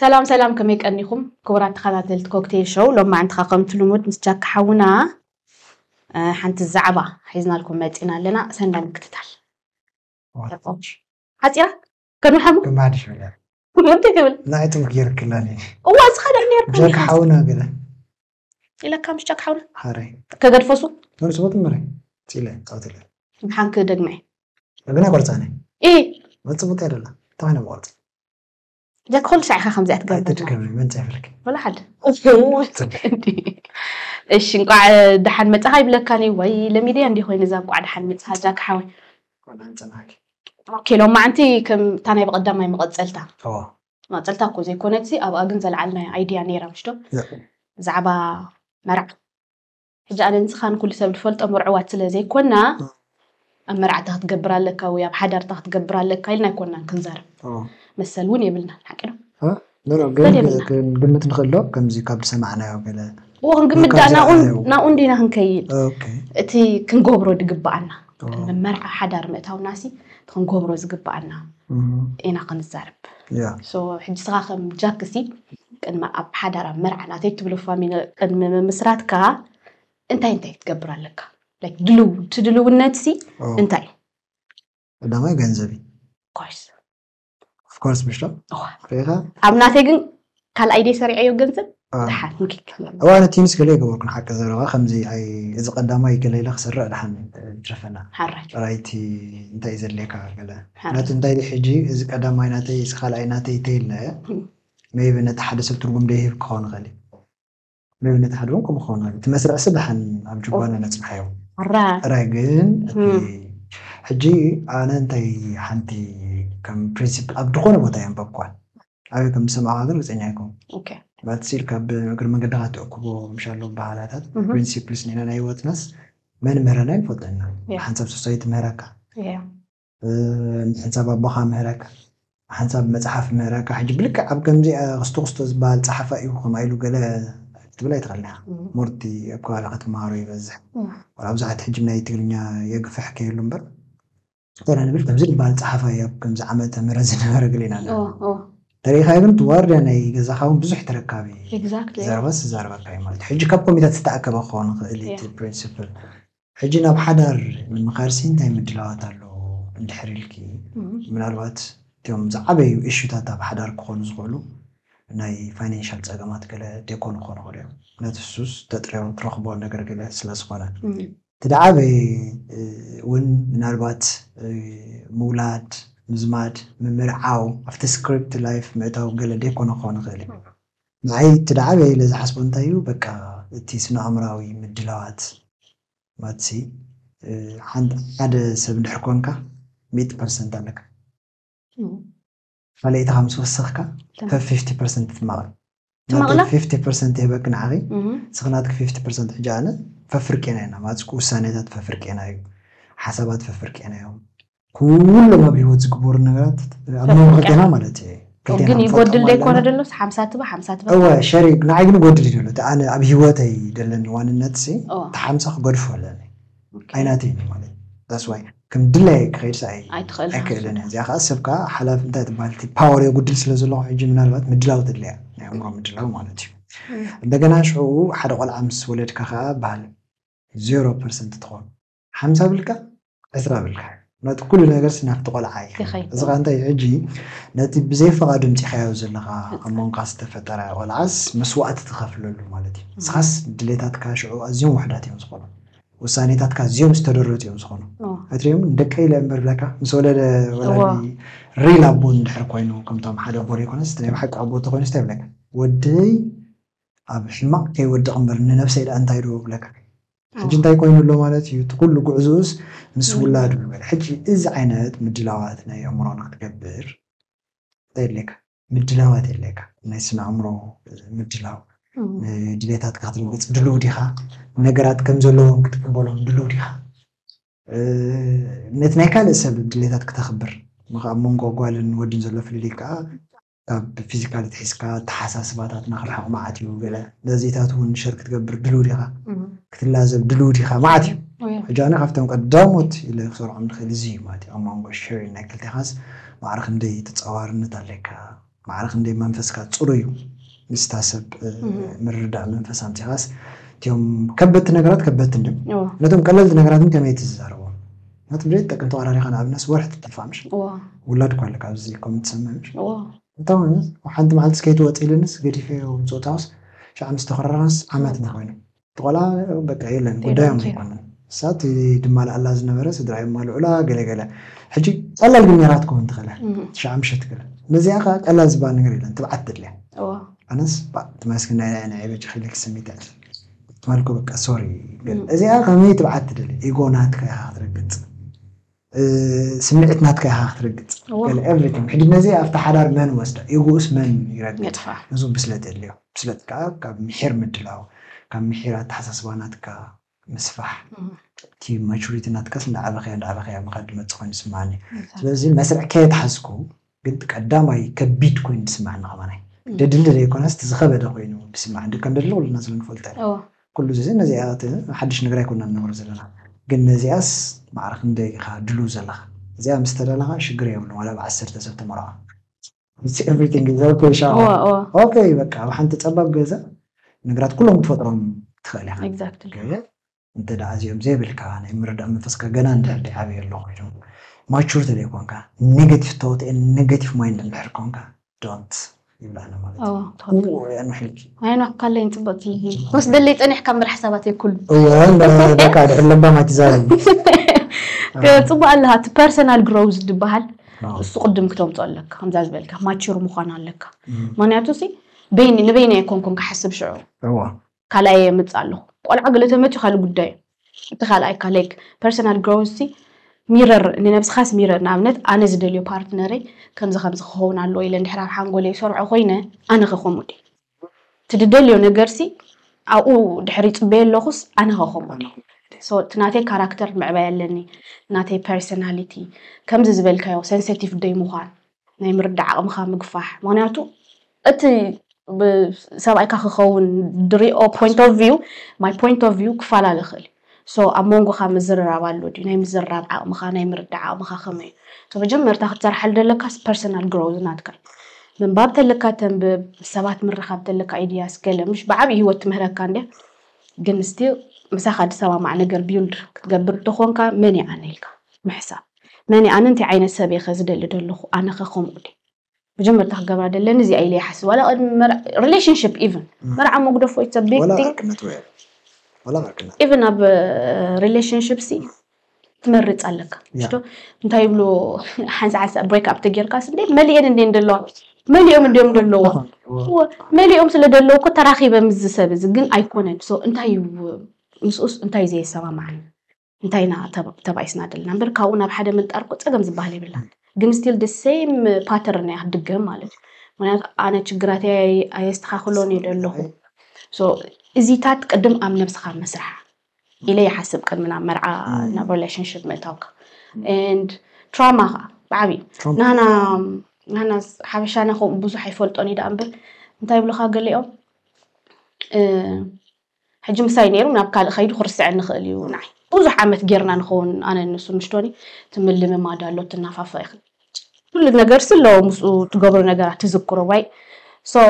ሰላም ሰላም ከመይ ቀኒኹም ክቡራት ተኸታተልቲ ኮክቴል ሾው ሎማዕንቲ ከ ከምቲ ልሙድ ምስ ጃኪ ሓውና ሓንቲ ዛዕባ ሒዝናልኩም መጺና ኣለና ሰናይ ምክትታል ሓጺራ ከመይ ሓሙ ድማ ድሽ ብለ እንታይ ትብል ናይቶም ገይርክላ እዋ ዝኸደ ነርኩ ጃኪ ሓውና ገለ ኢለካ ምስ ጃኪ ሓውና ሃረይ ከገድፈሱ ንርስቦት ምረ ፂለ ጣውትለ ሓንክ ደግመ ግና ቆርፃነ ኢ መፅቡት ያደላ እንታይ ኮይነ መቆርፅ ኩሉ ሳዕ ኢኻ ከምዚኣ ትገብርእሺ እንቋዕ ደሓን መፃኻ ይብለካ ዩ ወይ ለሚድያ እንዲ ኮይኑ እዛ እንቋዕ ደሓን መፅኻ ጃክ ሓወይ ኪሎም ማዓንቲ ከምታ ናይ ብቐዳማይ መቐፀልታ መቐፀልታ እኮ ዘይኮነትሲ ኣብኣ ግን ዘልዓልና ኣይድያ ነይራ ምሽቶ ብዛዕባ መርዓ ሕጂ ኣነ ንስኻን ኩሉ ሰብ ዝፈልጦ ምርዑዋት ስለ ዘይኮና ኣብ መርዓታ ክትገብር ኣለካ ወይ ኣብ ሓዳርታ ክትገብር ኣለካ ኢልና ኣይኮናን ክንዛረብ መሰል እውን የብልና ሓቂ ዶ ግምት ንክእሎ ከምዚ ካብ ዝሰማዕናዮ ገለ ክንግምት ድኣ ናብኡ እንዲና ክንከይድ እቲ ክንገብሮ ድግበኣና መርዓ ሓዳር ምእታውናሲ ክንገብሮ ዝግባኣና ኢና ክንዛረብ ሕጂ ስኻ ከም ጃክሲ ቅድሚ ኣብ ሓዳር ኣብ መርዓ ናተይ ትብሎ ፋሚሊ ቅድሚ ምምስራትካ እንታይ እንታይ ክትገብር ኣለካ ድልው ትድልውነትሲ እንታይ እዩ ቀዳማይ ገንዘብ እዩ ኦፍኮርስ ምሽ ሪኢኻ ኣብ ናተይ ግን ካልኣይ ደይ ሰሪዐዮ ገንዘብ ድሓን ምኪት እዋ ነቲ ምስ ገለ ይገበርኩ ንሓቂ ዘረባ ከምዚ ኣይ እዚ ቀዳማይ ገለ ኢለ ክሰርዕ ድሓን ይትረፈና ሓራይ ራይቲ እንታይ እዩ ዘድልየካ ገለ ሓራይ ነቲ እንታይ ድዩ ሕጂ እዚ ቀዳማይ ናተይ እዚ ካልኣይ ናተይ ተይለ እም፣ ሜይቢ ነቲ ሓደ ሰብ ትርጉም ደይህብ ክኸውን ይኽእል እዩ መብነት ሓደ ውን ከምኡ ክኸውን ኣለዎ እቲ መስርዕሲ ደሓን ኣብ ጅባና ነጽንሓዮ ጥራይ ግን እቲ ሕጂ ኣነ እንታይ ሓንቲ ከም ፕሪንሲፕል ኣብ ድኾነ ቦታ የንበብኳ ኣበይ ከም ዝሰማዕኳ ግን ርግጸኛ ኣይኮንኩን ማለት ሲል ካብ እግሪ መንገድኻ ትእክቦ ምሻሎ ባህላታት ፕሪንሲፕልስ ኔና ናይ ህይወትናስ መን ምህረና ይንፈልጦ ኢና ሓንሳብ ሶሳይቲ ምህረካ ምሕንጻብ ኣቦኻ ምህረካ ሓንሳብ መጽሓፍ ምህረካ ሕጂ ብልክዕ ኣብ ከምዚ ክስቶ ክስቶ ዝበሃል ጸሓፋይ እዩ ከምኣ ኢሉ ገለ ክትብል ኣይትኽእልን ኢኻ ሞርቲ ኣብ ከባቢኻ ትመሃሮ ይበዝሕ ወላ ብዙሓት ሕጂ ናይ ትግርኛ የግፍሕ ከየሉ እምበር ኮነ ንብል ከምዚ ዝበሃል ጸሓፋይ ኣብ ከምዚ ዓመተ ምህረት ዝነበረ ገለ ኢና ተሪኢኻ ግን ዋርድያ ናይ ገዛኻ እውን ብዙሕ ተረካቢ ዘረባስ ዝዛረበካ እዩ ማለት ሕጂ ካብ ኮሚታት ዝተኣከበ ክኸውን ይኽእል እቲ ፕሪንስፕል ሕጂ ናብ ሓዳር ንምኻድሲ እንታይ ምድላዋት ኣሎ እንድሕር ኢልኪ፣ ምናልባት እቶም ዝዓበዩ እሹታት ኣብ ሓዳር ክኾኑ ዝኽእሉ ናይ ፋይናንሻል ጸገማት ገለ ዴኮን ክኾኑ ይኽእሉ እዮም። ምክንያቱ እሱስ ተጥርዮ ትረኽቦ ነገር ገለ ስለ ዝኾነ። እቲ ድዓበየ ውን ምናልባት ምውላድ፣ ምዝማድ፣ ምምርዓው፣ ኣብቲ ስክሪፕት ላይፍ ምእታው ገለ ዴኮን ክኾን ይኽእል እዩ። ንዓይ እቲ ድዓበየ ኢለ ዝሓስቦ እንታይ እዩ በቃ እቲ ስነኣእምራዊ ምድላዋት ማትሲ ሓደ ሰብ እንድሕር ኮንካ ሚእቲ ፐርሰንት ኣለካ ካልኣይትኻ ምስ ወሰኽካ ከም ፊፍቲ ፐርሰንት ትማቐል ትማቕላ ፊፍቲ ፐርሰንት ይህበኪ ንዓኺ እስኺ ናትኪ ፊፍቲ ፐርሰንት ሕጂ ኣነ ፈፍርቄና ኢና ማትስኩ ውሳኔታት ፈፍርቄና እዩ ሓሳባት ፈፍርቄና እዮም ኩሎም ኣብ ህይወት ዝግበሩ ነገራት ኣብ መንጎ ክልቴና ማለት እየ ግን ይጎድል ዶ ይኮነ ደሎ ሓምሳ ትበ ሓምሳ ትበ እወ ሸሪ ንዓይ ግን ይጎድል እዩ ደሎ ኣነ ኣብ ህይወተይ ደለኒ ዋንነት ሲ እቲ ሓምሳ ክገድፎ ኣለኒ ኣይናተይ ማለት ዳስዋይ ከም ድላይ ክኸይድ ሰ ኣይክእልን እያ እዚኣ ከዓ ሰብ ከዓ ሓላፍ እንታይ ትበሃል እቲ ፓወር የጉድል ስለ ዘለኹ ሕጂ ምናልባት ምድላው ተድልያ ናይ ኣእምሮ ምድላው ማለት እዩ እንደገና ሽዑ ሓደ ቆልዓ ምስ ወለድካ ከዓ በሃል ዜሮ ፐርሰንት ትኾን ሓምሳ ብልካ ዕስራ ብልካ ነቲ ኩሉ ነገርሲ ናብቲ ቆልዓ እዩ ይኸይድ። እዚ ኸዓ እንታይ እዩ ሕጂ ነቲ ብዘይ ፈቓዱ ኣምፂእኻዮ ዘለኻ ኣብ ህፃን። መንጎኻ ዝተፈጠረ ቆልዓስ መስዋእቲ ትኸፍለሉ ማለት እዩ ንስኻስ ድሌታትካ ሽዑ ኣዝዮም ውሑዳት እዮም ዝኾኑ ውሳኔታትካ ኣዝዮም ዝተደረቱ እዮም ዝኾኑ ኦ፣ ኣይትሪኦም ንደቀይ ኢለ እምበር ብለካ ምስ ወለደ እዎ። ወላዲ ሪል ኣቦ እንድሕር ኮይኑ ከምቶም ሓደ ኣቦ ዘይኮነስ እቲ ናይ ብሓቂ ኣቦ እንተኾይኑስ እንታይ ይብለካ ወደይ ኣብ ሕማቕ ከይወድቕ እምበር ንነብሰይ ደኣ እንታይ ዶ እብለካ ሕጂ እንታይ ኮይኑ ኣሎ ማለት እዩ እቲ ኩሉ ጉዕዞኡስ ምስ ውላዱ ንበል ሕጂ እዚ ዓይነት ምድላዋት ናይ ኣእምሮና ክትገብር እንታይ የድልየካ ምድላዋት የድልየካ ናይ ስነ ኣእምሮ ምድላው ድሌታትካ ክትርግጽ ድሉው ዲኻ ነገራት ከም ዘለዎም ክትቅበሎም ድሉው ዲኻ ነቲ ናይ ካልእ ሰብ ድሌታት ክተኽብር ኣብ መንጎ ጓልን ወድን ዘሎ ፍልልይ ከኣ ካብ ፊዚካሊቲ ሒዝካ ኣተሓሳስባታትና ክርሕቕ መዓት እዩ ገለ ነዚታት እውን ሸር ክትገብር ድልው ዲኻ ክትላዘብ ድልው ዲኻ መዓት እዩ ሕጂ ኣነ ካብቶም ቀዳሞት ኢለ ክሰርዖም ንኽእል እዚ እዩ ማለት እዩ ኣብ መንጎ ሸሪን ናይ ክልቴኻስ ማዕረ ክንደይ ተጻዋርነት ኣለካ ማዕረ ክንደይ መንፈስካ ጽሩ እዩ ምስታ ሰብ ምርዳእ መንፈስ ኣምጺኻስ እትዮም ከበድቲ ነገራት ከበድቲ እንድም ነቶም ቀለልቲ ነገራትን ከመይ ትዛረቦም ናቲ ብሬት ጠቅም ተዋራሪካ ንኣብነት ወርሒ ትጠፋ ምሽ ውላድ እኳ ኣለካ ኣብዚ ኮመንት ሰምዕ ምሽ እታውን ሓንቲ መዓልቲ ስከይ ትወፅ ኢልንስ ገዲፈዮ ምፅውታውስ ሻዕ ምስ ተኮራራስ ዓመት ና ኮይኑ ተቆልዓ በቃ የለን ጉዳዮም ኣይኮነ እሳ እቲ ድማልኣላ ዝነበረ ስድራ የማልዑላ ገለ ገለ ሕጂ ቀላል ግን ነራት ክኸውን ትኽእለ ትሽዓ ምሸት ክለ ነዚኣ ከዓ ቀላል ዝበሃል ነገር የለን ትብዓት ትድልያ ኣነስ ትመስግና ኢለ ናይ በጃ ክብለኪ ስሚት በልኩ በቃ ሶሪ በል እዚኣ ከመይ ትብዓት ትደሊ ኢጎ ናትካ ኢኻ ክትረግጽ ስምዒት ናትካ ኢኻ ክትረግጽ ገለ ኤቭሪቲንግ ሕጂ ነዚ ኣብቲ ሓዳር መን ወስዳ ኢጎኡስ መን ይረግጽ እዚ ብስለት የድልዮ ብስለት ከዓ ካብ ምሒር ምድላው ካብ ምሒር ኣተሓሳስባ ናትካ ምስፋሕ እቲ ማቹሪቲ ናትካስ እንዳዓበኸያ እንዳዓበኸያ ምኻድ ድመጽእ ኮይኑ ይስምዓኒ ስለዚ መስርዕ ከየትሓዝኩ ግን እቲ ቀዳማይ ከቢድ ኮይኑ ዝስመዐና ከማናይ ደድሊ ዘይኮነስ እቲ ዝኸበደ ኮይኑ ዝስመዐ ደቀ ንደድሊ ኩልና ስለንፈልጦ ኢና እወ ኩሉ እዚ ነዚኣ እቲ ሓድሽ ነገር ኣይኮናን ንነብሮ ዘለና ግን ነዚኣስ ማዕረ ክንደይ ኢኻ ድሉው ዘለኻ እዚኣ ምስ ተዳለኻ ሽግር የብሉን ዋላ ብ ዓሰርተ ሰብ ተመርዖ It's everything is ok እወ ሻዖ እወ ok በቃ ኣብ ሓንቲ ጸባብ ገዛ ነገራት ኩሎም ክትፈጥሮም ትኽእል ኢኻ Exactly ግን እንተ ደኣ እዚኦም ዘይብልካ ናይ ምርዳእ መንፈስካ ገና እንድሕር ደይዓበየ ኣሎ ኮይኑ ማቹር ተደይ ኮንካ ኔገቲቭ ቶት ኤንድ ኔገቲቭ ማይንድ እንድሕር ኮንካ ዶንት ይብላዕና ማለት እዩ እዎ ትክክል እዎ እያ ንሕልኪ ኣየናኩ ካለይን ጽብቕቲ ክወስደለይ ጸኒሕካ ምራሕ ሰባት የኩሉ እዎ እንዳ ደካ ድሕር ለባም ኣይትዛረብ ጽቡቅ ኣለካ እቲ ፐርሰናል ግሮውዝ ዝበሃል አዎ። እሱ ቅድም ክተምጾ ኣለካ ከምዛ ዝበልካ ማቹር ምዃን ኣለካ ምክንያቱ ሲ በይኒ ንበይኒ ኣይኮንኩን ክሓስብ ሽዑ እዎ ካልኣየይ የምጽእ ኣለኹ ቆልዓ ገለ ተመትዩ ካልእ ጉዳይ እዩ እቲ ካልኣይካ ላይክ ፐርሰናል ግሮውዝ ሲ ሚረር ንነብስኻስ ሚረር ንኣብነት ኣነ ዝደልዮ ፓርትነረይ ከምዚ ከምዚ ክኸውን ኣለዎ ኢለ እንድሕር ኣብ ሓንጎለይ ይሰርዖ ኮይነ ኣነኸ ከምኡ ድየ እቲ ድደልዮ ነገርሲ ኣብኡ ድሕር ይጽበዮ ኣለኹስ ኣነኸ ከምኡ ድየ ሶ እቲ ናተይ ካራክተር ምዕባይ ኣለኒ ናተይ ፐርሰናሊቲ ከምዚ ዝበልካዮ ሰንሰቲቭ ደይ ምዃን ናይ ምርዳእ ዓቕምኻ ምግፋሕ ምኽንያቱ እቲ ሰብኣይካ ክኸውን ድሪኦ ፖይንት ኦፍ ቪው ማይ ፖይንት ኦፍ ቪው ክፈላለ ይኽእል እዩ ሶ ኣብ መንጎኻ ምዝርራብ ኣሎ ድዩ ናይ ምዝርራብ ዓቕምኻ ናይ ምርዳእ ዓቕምኻ ከመይ እዩ ሶ መጀመርታ ክትሰርሓሉ ዘለካስ ፐርሰናል ግሮውዝ ናትካ እዩ ምንባብ ተለካ ተንብብ ምስ ሰባት ምርኻብ ተለካ ኣይድያስ ገለ ምሽ ብዓብዪ ሂወት ትምህረካ እንድያ ግን ስቲል ምሳኻ ድሰማማዕ ነገር ቢውልድ ክትገብር እንተኾንካ መን ይኣነልካ ምሕሳብ መን እየ ኣነ እንታይ ዓይነት ሰብ እየኸ ዝደሊ ደለኹ ኣነኸ ከምኡ ድየ መጀመርታ ክገብራ ደለኒ እዚኣ ኢለ ይሓስብ ዋላ ቅድሚ ሪሌሽንሽፕ ኢቨን መርዓ መጉደፎ ኢትስ ቢግ ቲንግ ኢቨን ኣብ ሪሌሽንሽፕ ሲ ትመርፅ ኣለካ ሽዶ እንታይ ይብሉ ሓንሳ ሓንሳ ብሬክ ኣፕ ተጌርካስ እንዴ መሊኤን እንዴ እንደለዋ መሊኦም እንዲኦም ደለዎ መሊኦም ስለ ደለዎ እኮ ተራኺበ ምስ ዝሰብ እዚ ግን ኣይኮነን ሶ እንታይ ምስኡስ እንታይ ዘየሰማማዕን እንታይ ኢና ተባኢስና ደለና እምበር ካብኡ ናብ ሓደ ምንጣር እኮ ፀገም ዝበሃል የብላን ግን ስቲል ደሴም ፓተርን እያ ክትድገም ማለት እዩ ምክንያቱ ኣነ ችግራት ኣየስተካክሎን እዩ ደለኹ እዚታት ቅድም ኣብ ነብስኻ መስራሕ ኢለ ይሓስብ ቅድሚ ናብ መርዓ ናብ ሪሌሽንሽፕ ምእታውካ ንድ ትራማ ከዓ ብዓብዩ ናና ናና ሓበሻና ከምኡ ብዙሕ ኣይፈልጦን እዩ ዳኣ እምበር እንታይ ይብልካ ገሊኦም ሕጂ ምሳይ ኔሩ ናብ ካልእ ከይዱ ክርስዐኒ ይኽእል እዩ ንዓይ ብዙሕ ዓመት ጌርና ንኸውን ኣነን ንሱን ምሽ ቶኒ እቲ ምልምማድ ኣሎ ትናፋፈቂ ኢኺ ኩሉ ነገርሲ ኣሎ ምስኡ ትገብሮ ነገራት ትዝክሮ ዋይ so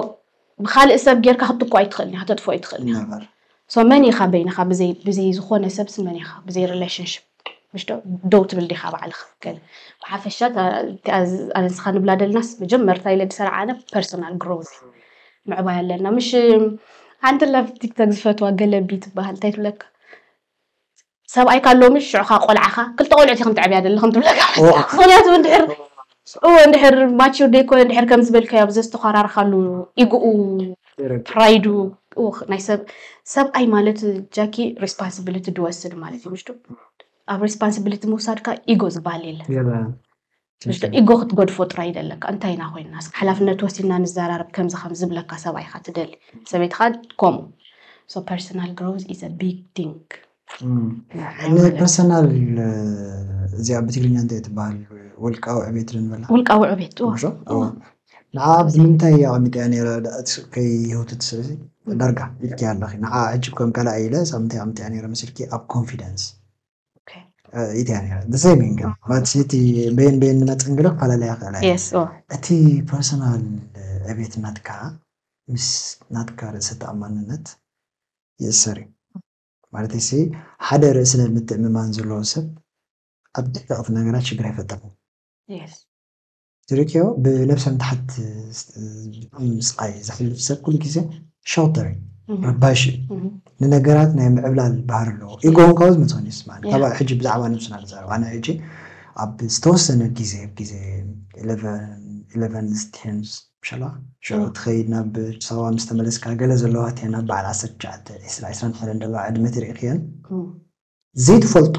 ብኻልእ ሰብ ጌርካ ክትኩ ኣይትኽእልን ኢኻ ተጥፍኦ ኣይትኽእልን ኢኻ so መን ኢኻ በይንኻ ብዘይ ብዘይ ዝኾነ ሰብሲ መን ኢኻ ብዘይ relationship ምሽ ዶ ደው ትብል ዲኻ ባዕልኻ ገለ ብሓፈሻ ኣነ ንስኻ ንብላ ደልናስ መጀመርታ ኢለ ድሰርዓ ኣነ ፐርሶናል ግሮዝ ምዕባይ ኣለና ምሽ ሓንቲ ላፍ ቲክቶክ ዝፈትዋ ገለቢ ትበሃል እንታይ ትብለካ ሰብኣይካ ሎሚ ሽዑኻ ቆልዓኻ ክልተ ቆልዑት ኢኹም ተዕብያ ደለኹም ትብለካ ምክንያቱ እንድሕር ስዑ እንድሕር ማቹር ደይኮነ እንድሕር ከምዚ በልካዮ ኣብ ዘዝተዃራርኻሉ ኢጉኡ ፕራይዱ ኡኽ ናይ ሰብ ሰብኣይ ማለት ጃኪ ሪስፓንስብሊቲ ድወስድ ማለት እዩ ምሽዶ ኣብ ሪስፓንስብሊቲ ምውሳድካ ኢጎ ዝበሃል የለን ምሽዶ ኢጎ ክትገድፎ ጥራይ ደለካ እንታይ ኢና ኮይንና ሓላፍነት ወሲድና ንዘራረብ ከምዚ ከም ዝብለካ ሰብኣይካ ትደሊ ሰበይትካ ከምኡ ሶ ፐርሰናል ግሮዝ ኢዝ ቢግ ቲንግ ፐርሰናል እዚኣ ብትግርኛ እንታይ ትበሃል? ውልቃዊ ዕቤት ንበላ ውልቃዊ ዕቤት ንዓ ብምንታይ እያ ኣቐሚጠ ነይረ ከይህውትት ስለዚ ዳርጋ ኢልኪ ኣለኺ ንዓ ሕጂ ከም ካልኣ ኢለ ሳብ ምንታይ ኣቐሚጠያ ነይረ መሲልኪ ኣብ ኮንፊደንስ ኢትያ ነይረ ብዘይ ሚንግ ማለት እቲ በየን በየን ንመፅን ግለ ክፈላለያ ይኽእላ እቲ ፐርሰናል ዕቤት ናትካ ምስ ናትካ ርእሰ ተኣማንነት ይእሰር እዩ ማለተይሲ ሓደ ርእስነ ምትእምማን ዘለዎ ሰብ ኣብ ደቀቅቲ ነገራት ሽግር ኣይፈጥርን። Yes። ትርኢክዮ ብነብሰ ምትሓት ዝጥዕም ስቃይ ዘሕልፍ ሰብ ኩሉ ግዜ Shouter እዩ ረባሺ እዩ ንነገራት ናይ ምዕብላል ባህሪ ኣለዎ። ኢጎ እውን ካብኡ ዝመጸ ኮይኑ ይስማዓኒ። ካብ Yeah። ሕጂ ብዛዕባ ነብስና ንዛረብ ኣነ ሕጂ ኣብ ዝተወሰነ ግዜ ግዜ ኢለቨን ኢለቨንስ ቴንስ ሻላ ሽዑ ትኸይድ ናብ ሳዋ ምስ ተመለስካ ገለ ዘለዋ እተን ኣብ በዓል ዓሰርተ ትሽዓተ፣ ዕስራ፣ ዕስራን ሓደን ዘለዋ ዕድመ ተሪእክየን ዘይትፈልጦ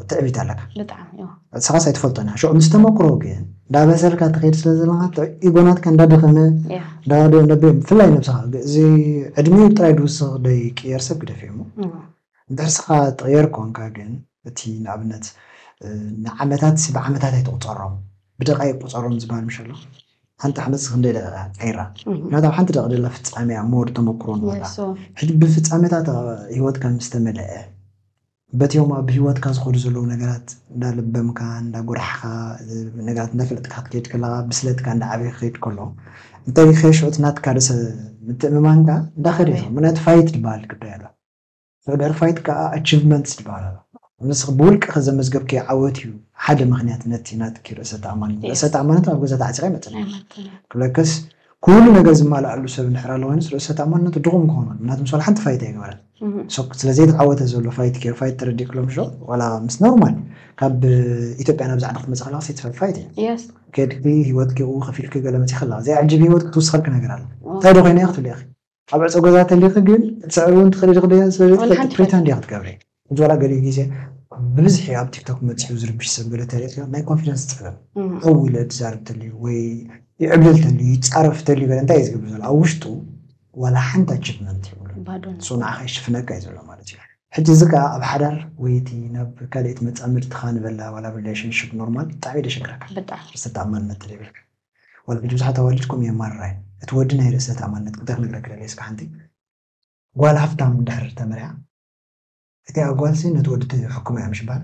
ትዕቢት ኣለካ። ብጣዕሚ እዎ። ንስኻስ ኣይትፈልጦን ኢኻ። ሽዑ ምስ ተመኩሮ ግን እንዳበሰልካ ትኸይድ ስለ ዘለኻ እቲ ኢጎ ናትካ እንዳደኸመ ያ እንዳ ደ- እንዳ ደ- ብፍላይ ነብስኻ ግ- እዚ ዕድሚኡ ጥራይ ድውስኽ ደይቅየር ሰብ ግደፍ እሞ እዎ። እንድሕር ስኻ ትቕየር ኮንካ ግን እቲ ንኣብነት እ፣ ንዓመታት ሲ ብዓመታት ኣይትቑጸሮም ብደቓይቕ ቁጸሮም ዝበሃል ምሽ ኣሎ ሓንቲ ዓመትሲ ክንደይ ደቂቃ ቀይራ ምክንያቱ ኣብ ሓንቲ ደቂ ደላ ፍጻሜያ ሞር ተመክሮ ንወላ ሕጂ ብፍጻሜታት ሂወትካ ምስ ተመለአ በቲኦም ኣብ ሂወትካ ዝኸዱ ዘለዉ ነገራት እንዳ ለበምካ እንዳ ጎራሕካ ነገራት እንዳ ፈለጥካ ክትከይድ ከለካ ብስለትካ እንዳ ዓበየ ክኸይድ ከሎ እንተ ሪከሽዑ እቲ ናትካ ርእሰ ምትእምማንካ እንዳ ከደ ይኸ ምክንያቱ ፋይት ድበሃል ግዳይ ኣሎ Further Fight ከኣ Achievements ይበሃል ኣሎ። ንስኺ ብውልቅኺ ዘመዝገብክዮ ዓወት እዩ ሓደ ምኽንያት ነቲ ናትኪ ርእሰ ተኣማንነት። ርእሰ ተኣማንነት ኣብ ገዛ ተዓጺኻ ኣይመጽእን እዩ። ክብለክስ ኩሉ ነገር ዝማልኣሉ ሰብ እንድሕር ኣሎ ኮይኑስ ርእሰ ተኣማንነቱ ድኹም ክኸውን ኣለዎ። ምኽንያቱ ምስ ዋላ ሓንቲ ፋይት ኣይገበረን። So ስለ ዘይተዓወተ ዘሎ ፋይት ኬር ፋይት ተረዲእኪ ሎምሽ ዶ ዋላ ምስ ኖርማል ካብ ኢትዮጵያ ናብዚ ዓዲ ክትመጺ ከለኻ ሴትስፋይድ ፋይት እዩ። Yes። ኬድኪ ህይወትኪ እኡ ከፊልኪ ገለ መጺኺ ኣለኻ። ዘየዕጅብ ህይወት ክትውስኸልኪ ነገር ኣሎ። እንታይ ዶ ኮይነ እየ ክትብሊ ኢኺ። ኣብ ዕጾ ገዛ ተሊኪ ግን ክትስዕሪ ውን ትክእሊ ዲኪ ደጊ ስለ ዘይትፈልጢ ፕሪተንድ ዲኪ ክትገብሪ ሕጂ ዋላ ገሊኡ ግዜ ብብዝሒ ኣብ ቲክቶክ መጺኡ ዝርብሽ ሰብ ገለ ተሪኢክዮ ናይ ኮንፊደንስ ጸገም ኣው ኢለ ድዛርብ ተልዩ ወይ ይዕብለል ተልዩ ይጻረፍ ተልዩ ገለ እንታይ ኢዩ ዝገብር ዘሎ ኣብ ውሽጡ ዋላ ሓንቲ ኣቺቭመንት የብሉን ባዶ ን ሶ ንዓካ ይሽፍነካ ኢዩ ዘሎ ማለት ኢዩ ሕጂ እዚ ከኣ ኣብ ሓዳር ወይ እቲ ናብ ካልእት መጻምድትካ ንበላ ዋላ ኣብ ሪሌሽንሽፕ ኖርማል ብጣዕሚ ኢዩ ደሸግረካ ብጣዕሚ ርእሰ ተኣማንነት ተለይብልካ ዋላ ሕጂ ብዙሓት ኣዋልድ ከምኡ እየን ማርራይ እቲ ወዲ ናይ ርእሰ ተኣማንነት እንተ ክነግረኪ ደልየ እስከ ሓንቲ ጓል ሃፍታም እንድሕር ተመርያ እቲኣ ጓልሲ ነቲ ወዲ ትሕክሞ እያ ምሽ ባል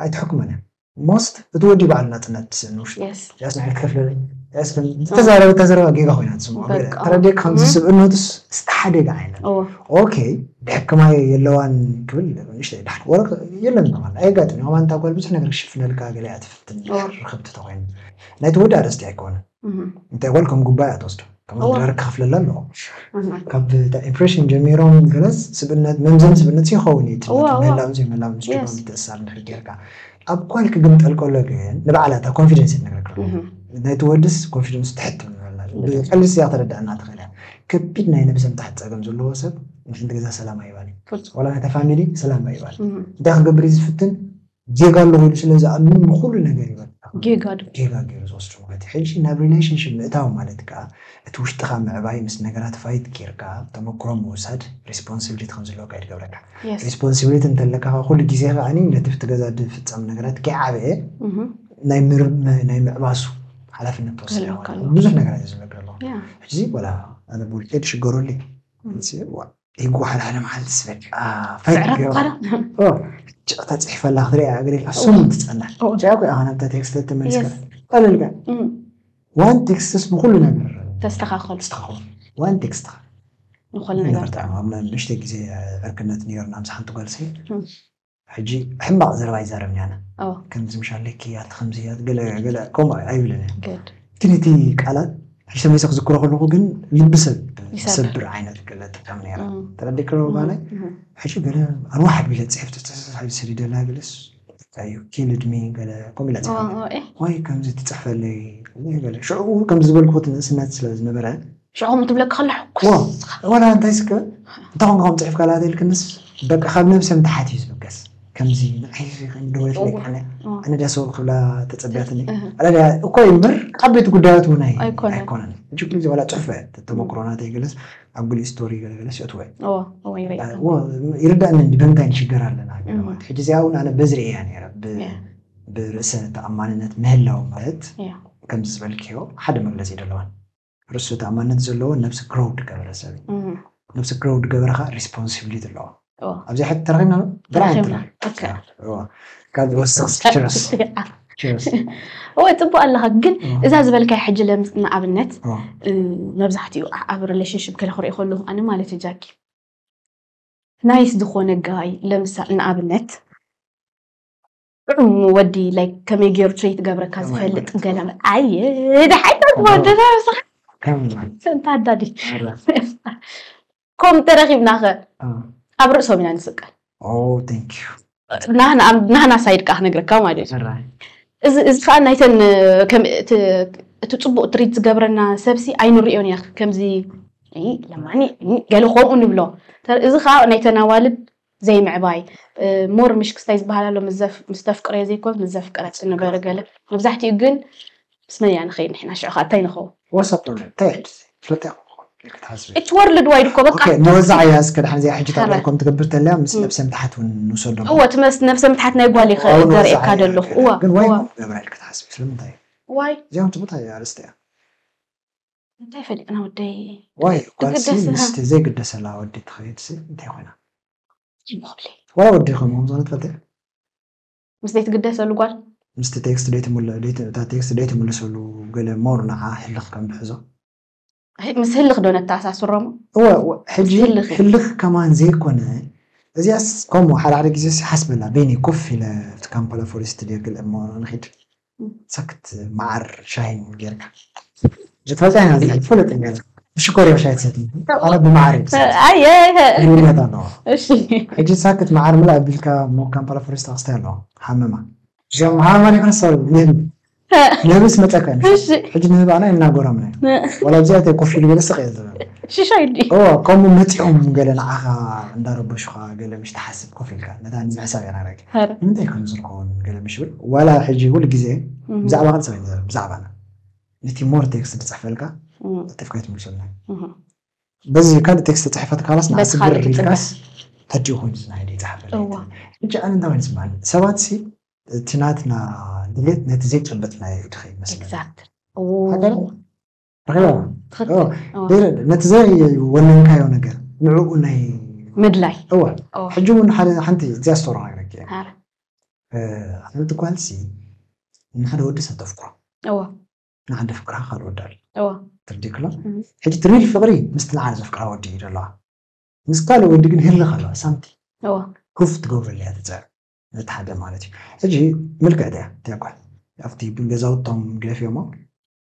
ኣይትሕክሞን እያ ሞስት እቲ ወዲ በዓል ናጽነት ስእን ውሽጡ ያስ ንዓይ ክከፍለለይ ያስ ዝተዛረበታ ዘረባ ጌጋ ኮይና ትስምዖ ተረድየ ከምዚ ስብእነቱስ ዝተሓደገ ዓይነት ኦኬ ድሕክማ የለዋን ክብል ንእሽተይ ዳሕር ወረ የለን ማለት ኣየጋጥም ከማን እታ ጓል ብዙሕ ነገር ክሽፍነልካ ገሊኣ ትፍትን ርክብቲ ተኮይኑ ናይቲ ወዲ ኣርእስቲ ኣይኮነን እንታይ ጓል ከም ጉባኤ ኣትወስዶ ከም ኣድራር ክኸፍለላ ኣለዎ ካብ ኢምፕሬሽን ጀሚሮም ገለስ ስብነት መምዘን ስብነት ይኸውን እዩ ትነት ምህላውን ዘይምህላውን ምስ ጭባ ምትእስሳር ንድሕሪ ጌርካ ኣብ ጓል ክግምጠል ከሎ ግን ንባዕላ እታ ኮንፊደንስ ይነግረካ ናይቲ ወድስ ኮንፊደንስ ትሕት ብቀሊል ስያ ተረዳእና ትኽእል እያ ከቢድ ናይ ነብሰ ምትሓት ፀገም ዘለዎ ሰብ ንሓንቲ ገዛ ሰላም ኣይባል ዋላ ናይታ ፋሚሊ ሰላም ኣይባል እንታይ ክገብር እዩ ዝፍትን ጌጋ ኣለዎ ኢሉ ስለ ዝኣምን ንኹሉ ነገር እዩ በቃ ጌጋ ዶ ጌጋ ገይሩ ዝወስዶ ማለት እዩ። ሕጂ ናብ ሪሌሽንሺፕ ምእታው ማለት ከኣ እቲ ውሽጥኻ ምዕባይ ምስ ነገራት ፋይት ጌርካ ተመኩሮ ምውሳድ ሪስፖንሲብሊቲ ከም ዝህልወካ እዩ ዝገብረካ። የስ ሪስፖንሲብሊቲ እንተለካ ከኣ ኩሉ ግዜ ከኣ ነቲ ኣብቲ ገዛ ዝፍጸም ነገራት ከይዓበየ እህ ናይ ምር ናይ ምዕባሱ ሓላፍነት ትወስድ ክህልወካ ኣለካ። ኣለዎ ብዙሕ ነገራት እዩ ዝብለካ ዘሎ። ያ ሕጂ ወላ ኣነ ብውልቀይ ድሽገረሉ እዩ። እህ እዚ እዋእ ይጓሓል ሓደ መዓልትስ በቃ ፈገግ ጭቕ ተፅሒፈላ ክትሪኣ እግሪልካ ስሙን ትፀላል ጭኣ ኮይ ኣኸ ናብታ ቴክስት ተመልስካ ቀለልካ ዋን ቴክስትስ ንኩሉ ነገር ተስተኻኸሉ ተስተኻኸሉ ዋን ቴክስት ንኩሉ ነገር ንሽተ ግዜ ዕርክነት ነይርና ምስ ሓንቲ ጓልሰይ ሕጂ ሕማቅ ዘረባ ኣይዛረብን ኣነ ከምዚ ምሽ ኣለኪ ኣቲ ከምዚ ገለ ገለ ከምኡ ኣይብልን እየ ግን እቲ ቃላት ሕጂ ተመሊሰ ክዝክሮ ከለኩ ግን ልቢ ሰብ ዝሰብር ዓይነት ገለ ትጥቀም ነይራ ተረዲእ ከለኩ ባላይ ሕጂ ገለ ኣርዋሕ ኣቢለ ፅሕፍቲ ተሰሳሒ ሰዲደላ ገለስ እዩ ኪልድሚ ገለ ከምኡ ኢላ ፅሕፈ ዋይ ከምዚ ትፅሕፈለይ ገለ ሽዑ ከምዚ ዝበልኩ ትንእስነት ስለ ዝነበረ ሽዑ ከምኡ ትብለኪ ከላ ሕኩስ ወላ እንታይ ስከ እንታይ ኮንካ ከም ፅሒፍካ ላተ ኢልክንስ በቃ ካብ ነብሰም ተሓት እዩ ዝበገስ ከምዚ ንዓይ ደወለት ለይ ኣነ ኣነ ዳስ ክብላ ተፀቢያትኒ ኣለያ እኮ እዩ እምበር ዓበይቲ ጉዳያት እውን ኣይኮነን እጅ ኩሉ ግዜ ዋላ ፅሑፈ ተመክሮ ናተይ ገለስ ኣብ ጉሊ ስቶሪ ገለገለስ የትወ ይርዳእኒ እንዲ በምንታይ ንሽገር ኣለና ገለማት ሕጂ እዚኣ እውን ኣነ በዝሪ እያ ነረ ብርእሰ ተኣማንነት ምህላው ማለት ከምዚ ዝበልክዮ ሓደ መግለፂ ደለዋን ርእሱ ተኣማንነት ዘለዎ ነብሲ ግሮው ድገበረ ሰብ እዩ እህ፣ ነብሲ ግሮው ድገበረ ከዓ ሪስፖንሲቢሊቲ ኣለዎ እዎ። ኣብዚ ሕት ተረኺብና ዶ? ብርሃን ተረኺብና። ተረኺብና። ኦኬ። እዎ። ካብ ዝወስኽ ችረስ ችረስ እወ ፅቡቅ ኣለኻ ግን እዛ ዝበልካያ ሕጂ ለምስ ንኣብነት እዎ። እ፣ መብዛሕትኡ ኣ- ኣብ ሪሌሽንሽፕ ከለ ክሪኦ ከለኹ ኣነ ማለት እዩ ጃኪ ናይስ ዝኾነ ጋይ ለምሳሌ ንኣብነት ጥዑም ወዲ ላይክ ከመይ ገይሩ ትሬት ገብረካ ዝፈልጥ ገለ ኣየ ደሓይታ ወደና ንስኻ እንታ ኣዳዲ ከምኡ ተረኺብና ኸ ኣብ ርእሶም ኢና ንስቀል ናህና ሳይድ ከዓ ክነግረካ ማለት እዩ እዚ ከዓ ናይተን እቲ ፅቡቅ ትሪት ዝገብረና ሰብሲ ኣይንሪኦን ኢና ከምዚ ለማኒ ገለ ከምኡ ንብሎ እዚ ከዓ ናይተን ኣዋልድ ዘይምዕባይ ሞር ምሽ ክስታይ ዝበሃል ኣሎ ምስ ተፍቅረዮ ዘይኮንስ ምስ ዘፍቀረ ጽንበሪ ገለ መብዛሕትኡ ግን ምስ መን ኢና ንኸይድ ንሕና ሽዑ ከኣ እንታይ ንኸውን Whatsapp ዶ እንታይ እዩ ሕጂ ፍልጥ ክትሓስቢ እቲ ወርልድ ዋይድ እኮ በቃ ኦኬ ንወዛዓያ እስከ ድሓን እዚኣ ሕጂ ተቕርብ ከም ትገብር ተለያ ምስ ነብሰ ምትሓት ውን ንውሰዶ እወ እቲ መስ ነብሰ ምትሓት ናይ ጓል ይኸ ዘርእየካ ዘለኹ እወ ግን ዋይ እኮ ገብራ ኢልኪ ትሓስቢ ስለምንታይ ዋይ እዚኦም ትምታይ ኣርእስቲ እያ እንታይ ፈሊጥና ወደይ ዋይ ጓልሲ ትግደስ ምስ እቲ ዘይግደሰላ ወዲ ትኸይድሲ እንታይ ኮይና ይብኹለይ ዋላ ወዲ ከምኡ ከም ዝኾነ ትፈልጢ ዲኺ ምስ ዘይትግደሰሉ ጓል ምስቲ ቴክስት ደይትምል ደይት እታ ቴክስት ደይትምልሰሉ ገለ ሞር ንዓ ህልኽ ከም ድሕዞ ህ- ምስ ህልኽ ዶ ነተኣሳስሮሞ እወ እወ ሕጂ ምስ ህልኽ እዩ። ህልኽ ከማን ዘይኮነ እዚኣስ ከምኡ ሓደ ሓደ ግዜስ ይሓስበላ በይነይ ኮፍ ኢለ ኣብቲ ካምፓላ ፎሬስት ድየ ክል እሞ ንኺድ ሰክት መዓር ሻሂን ጌርካ ዝፈልጣ ኢና እዚ ዝፈለጥ ነገር ብሽኮር እዮም ሻሂ ትሰትዩ ኣነ ብመዓር እዮም ዝሰትዩ ኣየ ልዩነት ኣለዎ እሺ ሕጂ ሳክት መዓር ምልእ ኣቢልካ ሞካን ፓላፎሬስታ ክስታይ ኣለዎ ሃመማ እዚኦም ሃመማ ዘይኮነ ሰሪ ንህቢ ንህቢ ስመፀካ እዩ እሺ ሕጂ ንህቢ ኣና እናጎረምና እዩ ዋላ ኣብዚ ኣተ ኮፍ ኢሉ ገለ ስቕ እየ ዝብል ሽሻ ኢሉ እዎ ከምኡ መፂኦም ገለ ንዓኻ እንዳረበሹኻ ገለ ምሽ ትሓስብ ኮፍ ኢልካ ነታ ንምሕሳብ ኢና ረግ ሐረ ንምንታይ ከምዚ ዝከውን ገለ ምሽ ብል ዋላ ሕጂ ኩሉ ግዜ ብዛዕባካ ጥራይ ንዛረብ ብዛዕባና ነቲ ሞር ቴክስት ዝጽሕፈልካ እም፣ ለጢፍካ ኣይትምልሰልና እም። በዚ ካልእ ቴክስት ተጽሒፋ ተካላስ ንዓ በዚ ስግር ካልእ ትጽበ። ኢልካስ ሕጂ ኮይኑ ዝናይደ ይጽሓፈለይ እዋ። ትብል ሕጂ ኣነ እንታይ ኮይኑ ይስምዓኒ ሰባት ሲ እቲ ናትና ድሌት ነቲ ዘይጨበጥናዮ እዩ ድኸ ይመስለና ኤግዛክትሊ እዎ። ሃገር ነቲ ዘወነንካዮ ነገር ንዕኡ ናይ ምድላይ እወ ሕጂ እውን ሓንቲ እዚያ ስቶሪ ነግረኪ ሓንቲ ጓልሲ ንሓደ ወዲ ሰብ ተፍቅሮ ንሓደ ፍቅራ ካልእ ወዲ ኣሎ ትርዲክሎ ሕጂ ትሪል ፍቅሪ ምስቲ ንዓለ ዘፍቅራ ወዲ እዩ ዘለዋ ምስ ካልእ ወዲ ግን ህልኽ ኣለዋ ሳንቲ ኩፍ ትገብረሉ እያ ትፅዕር ነቲ ሓደ ማለት እዩ ሕጂ ምልክዕቲ እያ እቲያ ጓል ኣብቲ ገዛውቶም ገፊኦሞ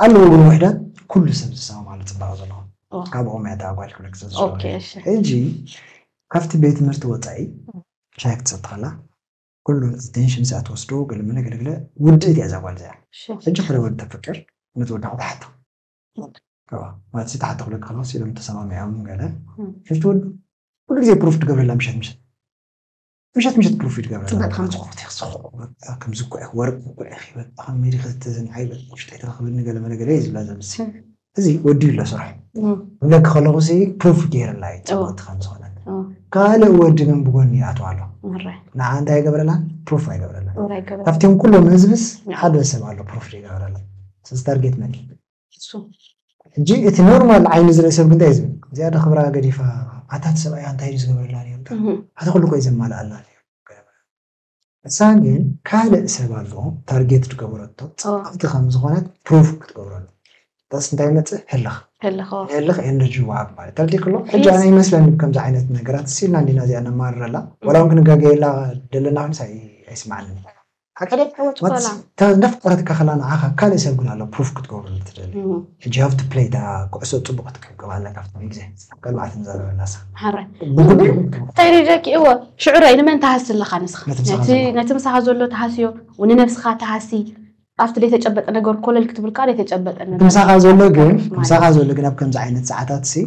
ኣለው ግን ውሕዳት ኩሉ ሰብ ዝሰማማሉ ጽባቀ ዘለዎ ካብ ኦሮምያ እታ ጓል ክብለኪ ስለ ዝፈቱ ኦኬ እሺ ሕጂ ካብቲ ቤት ትምህርቲ ወጻኢ ሻሂ ክትሰቲ ከላ ኩሉ ኣቴንሽን እዚኣ ትወስዶ ገለመለ ገለገለ ውድእት እያ እዛ ጓል እዚኣ እሺ ሕጂ ሓደ ወዲ ተፍቅር ነቲ ወዲ ክትሓቶ እዋ ማለት ተሓቶ ክብለኪ ከለኩ ሲሎም ተሰማሚዖም ገለ እም። ሕጂ እቲ ወዲ ኩሉ ግዜ ፕሩፍ ትገብረላ ምሸት ምሸት ምሸት ምሸት ፕሮፊት ገበረ ፅብቅቲ ከም ዝኮት ኢኽ ዝኮ ከም ዝኮ ኢኽ ወርቅ ዝኮ ኢኽ ይበል ከም ሜሪ ከተዘን ዓይበል ውሽጢ ተረክበኒ ገለ መለ ገለ ዝብላ ዘምሲ እዚ ወዲ ኣሎ ስራሕ ብለክ ከለኹ ሲ ፕሩፍ ገይርላ እዩ ፅብቅቲ ከም ዝኮነ ካልእ ወዲ ግን ብጎኒ ይኣትዋ ኣሎ ንዓ እንታይ ይገብረላን ፕሩፍ ኣይገብረላን ካብቲኦም ኩሎም ህዝብስ ሓደ ሰብ ኣሎ ፕሩፍ ይገብረላ ስለዚ ታርጌት መን እዩ እሱ ሕጂ እቲ ኖርማል ዓይኒ ዝርኢ ሰብ ግን እንታይ እዩ ዝብል እዚኣ ዶ ክብራ ገዲፋ ኣታ እቲ ሰብኣያ እንታይ እዩ ዝገብረላ ነይሩ ዳኣ እህ ኣቲ ኩሉ እኮ እዩ ዘማልኣላ ነይሩ ንሳ ግን ካልእ ሰብ ኣሎ ታርጌት ዝገበረቶ እዎ ጽብቕቲ ከም ዝኾነት ፕሩቭ ክትገብረሉ እታስ እንታይ ይመጽእ ህልኽ ህልኽ እዎ ንህልኽ ኤነርጂ ወሃብ ማለት ተረዲእኪ ኣሎ ሕጂ ኣነ ፕሊስ ይመስለኒ ከምዚ ዓይነት ነገራት ሲ ኢልና እንዲና እዚኣ ነማርረላ ወላ እም እውን ክንጋገየላ ደለና ክንስ ኣይ ኣይስምዓንን እዩ ወትስ እታ እንዳፍቀረትካ ከላ ንዓካ ካልእ ሰብ ግን ኣሎ ፕሩፍ ክትገብረሉ ትደሊ ሕጂ you have to play እታ ኩዕሶ ጽቡቅ ክትቅብቅብ ኣለካ ኣብቲ ግዜ ቀልባዓ ትዛረበላ እሳ ሐራይ ብጉድ ግን ይኹን ከም እንታይ ደቂ እወ ሽዑ ራይ ንመን ትሃሲ ኣለካ ንስካ ነቲ ምሳኻ ነቲ ዘሎ። ነቲ ምሳኻ ዘሎ ትሃስዮ ንነብስኻ ትሃሲ ኣብቲ ዘይተጨበጠ ነገር ኮለል ክትብል ከኣ ዘይተጨበጠ እቲ ነገር ምሳኻ ዘሎ ግን ማለት ምሳኻ ዘሎ ግን ኣብ ከምዚ ዓይነት ሰዓታት ሲ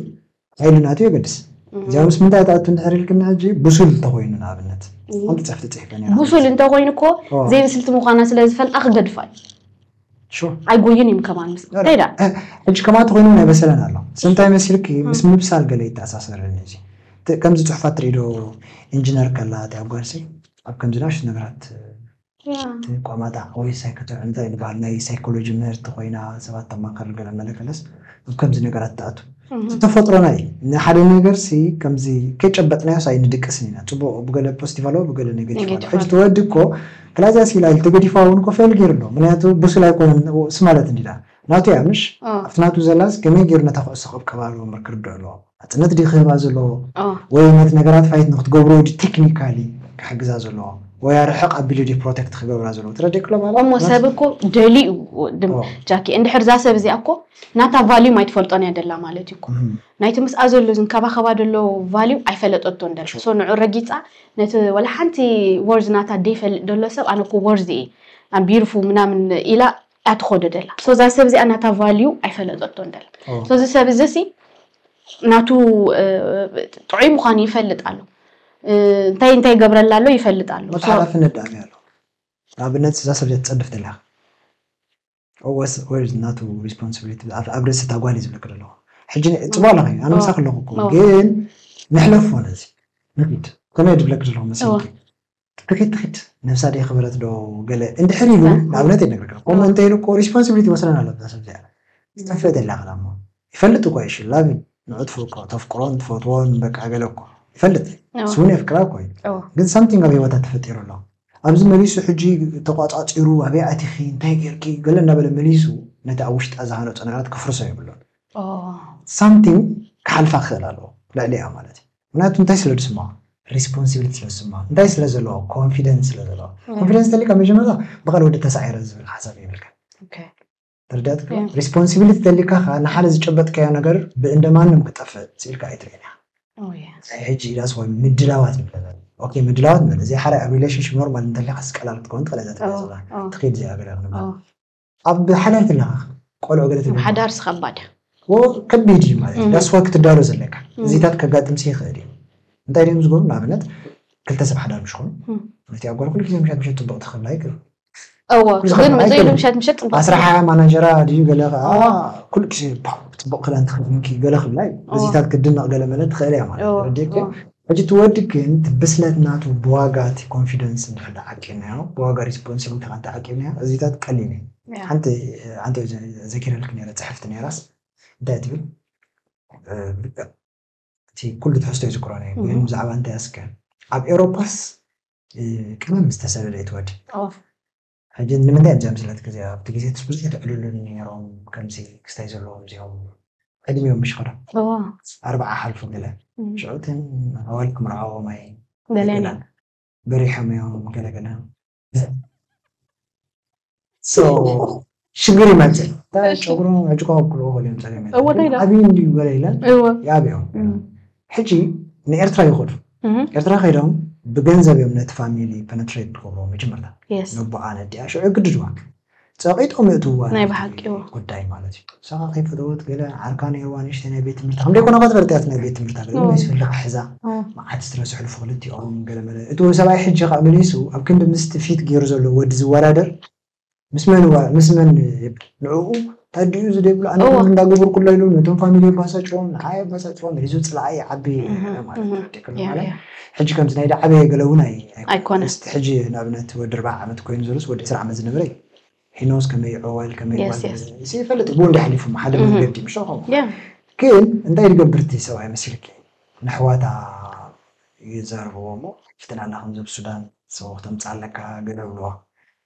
ሓይልን ኣትዩ የገድስ እዚኣ ምስ ምንታይ ትኣቱ እንድሕር ኢልክኒ ሕጂ ብሱል እንተኾይኑ ንኣብነት ሓንቲ ፅሕፍቲ ፅሒፈ ነይረ ብሱል እንተኾይኑ እኮ ኦ። ዘይብስልቲ ምዃና ስለ ዝፈልጣ ክገድፋ እዩ ሹ ኣይጎይን እዮም ከማን ምስ ከይዳ ሕጂ ከማቲ ኮይኑ እውን ኣይበሰለን ኣሎ ስንታይ መሲልኪ ምስ ምብሳል ገለ ይተኣሳሰርኒ እዚ እቲ ከምዚ ፅሑፋት ትርኢ ዶ ኢንጂነር ከላ እቲ ኣብ ጓልሲ ኣብ ከምዚ ናእሽቱ ነገራት እቲ ቋማጣ ወይ ሳይከተር እንታይ ንበሃል ናይ ሳይኮሎጂ ምህርቲ ኮይና ሰባት ተማክር ገለ መለ ከለስ ኣብ ከምዚ ነገራት ትኣቱ እቲ ተፈጥሮና እዩ ንሓደ ነገር ሲ ከምዚ ከይጨበጥናዮስ ኣይንድቅስን ኢና ጽቡቅ ብገለ ፖስቲቭ ኣለዎ ብገለ ኔገቲቭ ኣለዎ ሕጂ እቲ ወዲ እኮ ክላዚያ ሲላ ኢሉ ተገዲፍዋ ውን እኮ ፌል ጌሩ ኣሎ ምክንያቱ ቡሱል ኣይኮነን ስ ማለት እንዲና ናቱ እያ ምሽ ኣብቲ ናቱ ዘላስ ከመይ ጌሩ ነታ ኩዕሶ ክቕብቀባ ኣለዎ እምበር ክርድኦ ኣለዎ ናጽነት ድዩ ክህባ ዘለዎ ወይ ነቲ ነገራት ፋይት ንክትገብሮ ድዩ ቴክኒካሊ ክሕግዛ ዘለዎ ወይ ኣርሕቕ ኣቢሉ ድዩ ፕሮቴክት ክገብራ ዘለዎ ትረድእ ክሎ ማለት እሞ ሰብ እኮ ደልዩ ጃኪ እንድሕር እዛ ሰብ እዚኣ እኮ ናታ ቫልዩም ኣይትፈልጦን እያ ደላ ማለት እዩ እኮ ናይቲ ምስኣ ዘሎ ዝንከባኸባ ደሎ ቫልዩ ኣይፈለጠቶን ደላ ሶ ንዑ ረጊጻ ነቲ ወላ ሓንቲ ወርዝ ናታ ደይፈልጥ ደሎ ሰብ ኣነ እኮ ወርዝ እየ ኣቢርፉ ምናምን ኢላ እያ ትኾዶ ደላ ሶ እዛ ሰብ እዚኣ ናታ ቫልዩ ኣይፈለጠቶን ደላ ሶ እዚ ሰብ እዚ ሲ ናቱ ጥዑይ ምዃኑ ይፈልጥ ኣሎ እንታይ እንታይ ገብረላ ኣሎ ይፈልጥ ኣሎ ወጥ ሓላፍነት ደኣ ኣሎ ንኣብነት እዛ ሰብ እዚኣ ትፀድፍ ደላ ወስ ናቱ ሪስፖንሲቢሊቲ ኣብ ርእሲ እታ ጓል እዩ ዝብለኪ ዘለኹ ሕጂ ፅቡቅ ኣለኺ ኣነ ምሳኺ ኣለኹ እኮ ግን ንሕለፎ ነዚ ንኪድ ከመይ ድብለኪ ዘለኹ መሲልኪ ትኺድ ትኺድ ነብሳ ደይክበረት ዶ ገለ እንድሕር ኢሉ ንኣብነት እየ ዝነግረካ ከምኡ እንተ ኢሉ እኮ ሪስፖንሲብሊቲ ይወስደና ኣሎ እዛ ሰብ እዚኣ ክትጠፍእ ደላ ክላ እሞ ይፈልጥ እኮ እዩ ሺ ላቭ ሂም ንዑ ትፍርቆ ተፍቅሮን ትፈትዎን በቃ ገለ እኮ ይፈልጥ እዩ እሱ እውን የፍቅራ እኮ እዩ ግን ሳምቲንግ ኣብ ሂወታ ተፈጢሩ ኣሎ ኣብዚ መሊሱ ሕጂ ተቋጻጺሩ ኣበይ ኣቲኺ እንታይ ጌርኪ ገለ እንዳበለ መሊሱ ነቲ ኣብ ውሽጣ ዝሃነጾ ነገራት ከፍርሶ የብሉን ሳምቲንግ ክሓልፋ ክኽእል ኣለዎ ልዕሊኣ ማለት እዩ ምክንያቱ እንታይ ስለ ዝስምዖ ሪስፖንሲቢሊቲ ስለ ዝስምዖ እንታይ ስለ ዘለዎ ኮንፊደንስ ስለ ዘለዎ ኮንፊደንስ እንተሊካ መጀመርታ ብቃል ወዲ ተሳዒረ ዝብል ሓሳብ የብልካ ተረዳትካ ሪስፖንሲቢሊቲ እንተሊካ ከዓ ንሓደ ዝጨበጥካዮ ነገር ብእንደማንም ክጠፍእ ስኢልካ ኣይትርእን ኢኻ ሕጂ ኢላስ ወይ ምድላዋት ንብለ ኦኬ ምድላዋት ንበለ እዚ ሓደ ኣብ ሪሌሽንሽፕ ኖርማል እንተሊካ ስቀላል ክትከውን ትኽእል እዛ ትብላ ትኽእል እዚኣ ገለ ክንብል ኣብ ሓዳር ከለካ ቆልዑ ገለ ትብል ሓዳር ስከባድ ከቢድ እዩ ማለት እዩ ዳስዋ ክትዳሎ ዘለካ እዚታት ከጋጥምሲ ይኽእል እዩ እንታይ ድም ዝገብሩ ንኣብነት ክልተ ሰብ ሓዳር ምስ ኮኑ እቲኣ ጓል ኩሉ ግዜ ምሸት ምሸት ፅቡቅ ትኽላ ይግሩ እዎ ግን ዘይሉ ምሸት ምሸት ፅቡቅ ኣስራ ሓያ ማናጀራ ድዩ ገለ ከዓ ኩሉ ግዜ ፅቡቅ ክዳን ትኽደንኪ ገለ ክብላ እዩ እዚታት ክድነቅ ገለ መለ ትኽእል እያ ማለት ረዲክ ሕጂ እቲ ወዲ ግን እቲ ብስለት ናቱ ብዋጋ እቲ ኮንፊደንስ እንድሕር ድኣ ዓቂብናዮ ብዋጋ ሪስፖንሲብሊቲኻ እንተ ዓቂብናዮ እዚታት ቀሊል እዩ። ሓንቲ ሓንቲ ዘኪረልኪ ነይረ ጽሕፍቲ ነይራስ እንታይ ትብል እቲ ኩሉ ትሕዝቶ ኣይዝክሮን እየ ግን ብዛዕባ እንታያስከ ኣብ ኤውሮጳስ ቀመም ዝተሰለለ እዩ እቲ ወዲ። ሕጂ ንምንታይ እብዚ ኣብዚለት ግዜ ኣብቲ ግዜ ትስ ብዙሕ ትዕልሉኒ ኔሮም ከምዚ ክስታይ ዘለዎም እዚኦም ዕድሚኦም ምሽ ከዶ ኣርብዓ ሓልፉ ገለ ሽዑ እተን ኣዋልድ ክምርዓዎም ኣይ ደልያን በሪሖም እዮም ገለ ገለ ሶ ሽግር ይመጽእ ጨጉሮም ኣጅቋቁሉ ገሊኦም ጸገም ዓብዩ እንድዩ ገለ ኢለን ይኣብዮም ሕጂ ንኤርትራ ይኸዱ ኤርትራ ከይዶም ብገንዘብ እዮም ነቲ ፋሚሊ ፐነትሬት ዝገብርዎ መጀመርታ ነቦኣ ነዲኣ ሽዑ ይግድድዋ ጸቂጦም የእትውዋ ናይ ብሓቂ ጉዳይ ማለት እዩ ሳኻ ከይፈተወት ገለ ዓርካ ነይርዋ ንእሽተይ ናይ ቤት ትምህርቲ ከም ደይኮነ ከትፈልጥ እያ ናይ ቤት ትምህርታ ገለ ናይ ስፍልካ ሕዛ መዓት ስትረስ ሕልፉ ክልቲኦም ገለ መለ እቲ እውን ሰብኣይ ሕጂ ካብ መሊሱ ኣብ ክንዲ ምስቲ ፊት ገይሩ ዘሎ ወዲ ዝወዳደር ምስ መን እዋ ምስ መን ይብል ንዕኡ ታዲኡ ዝደብሉ ኣነ እዎ። እንዳገበርኩላ ኢሉ ነቶም ፋሚሊ የባሳጭዎም ንዓይ የባሳጭዎም ሒዙ ፅልዓይ ይዓቢ ይነበረ ማለት እህ፣ እዩ ደቅም ያ፣ ማለት ያ። ሕጂ ከምዚ ናይ ዳዓበየ ገለ እውን ኣይ ኣይኮነን ኣይኮነን። ምስቲ ሕጂ ንኣብነት ወዲ ኣርብዓ ዓመት ኮይኑ ዘሎስ ወዲ ዕስራ ዓመት ዝነበረ እዩ ሒኖስ ከመይ ዕዋል ከመይ Yes, ጓል yes. እዚ ይፈልጥ እዩ ብኡ እንድዩ ሓሊፉ እሞ ሓደ እህ። መንገዲ ምሾ ከምኡ ያ። ግን እንታይ ድገብር እቲ ሰብኣይ መሲልኪ ነሕዋታ ይዛረብዎ እሞ ፍትናና ከምዚ ኣብ ሱዳን ሰበኽ ተምፅኣለካ ገለ ይብልዋ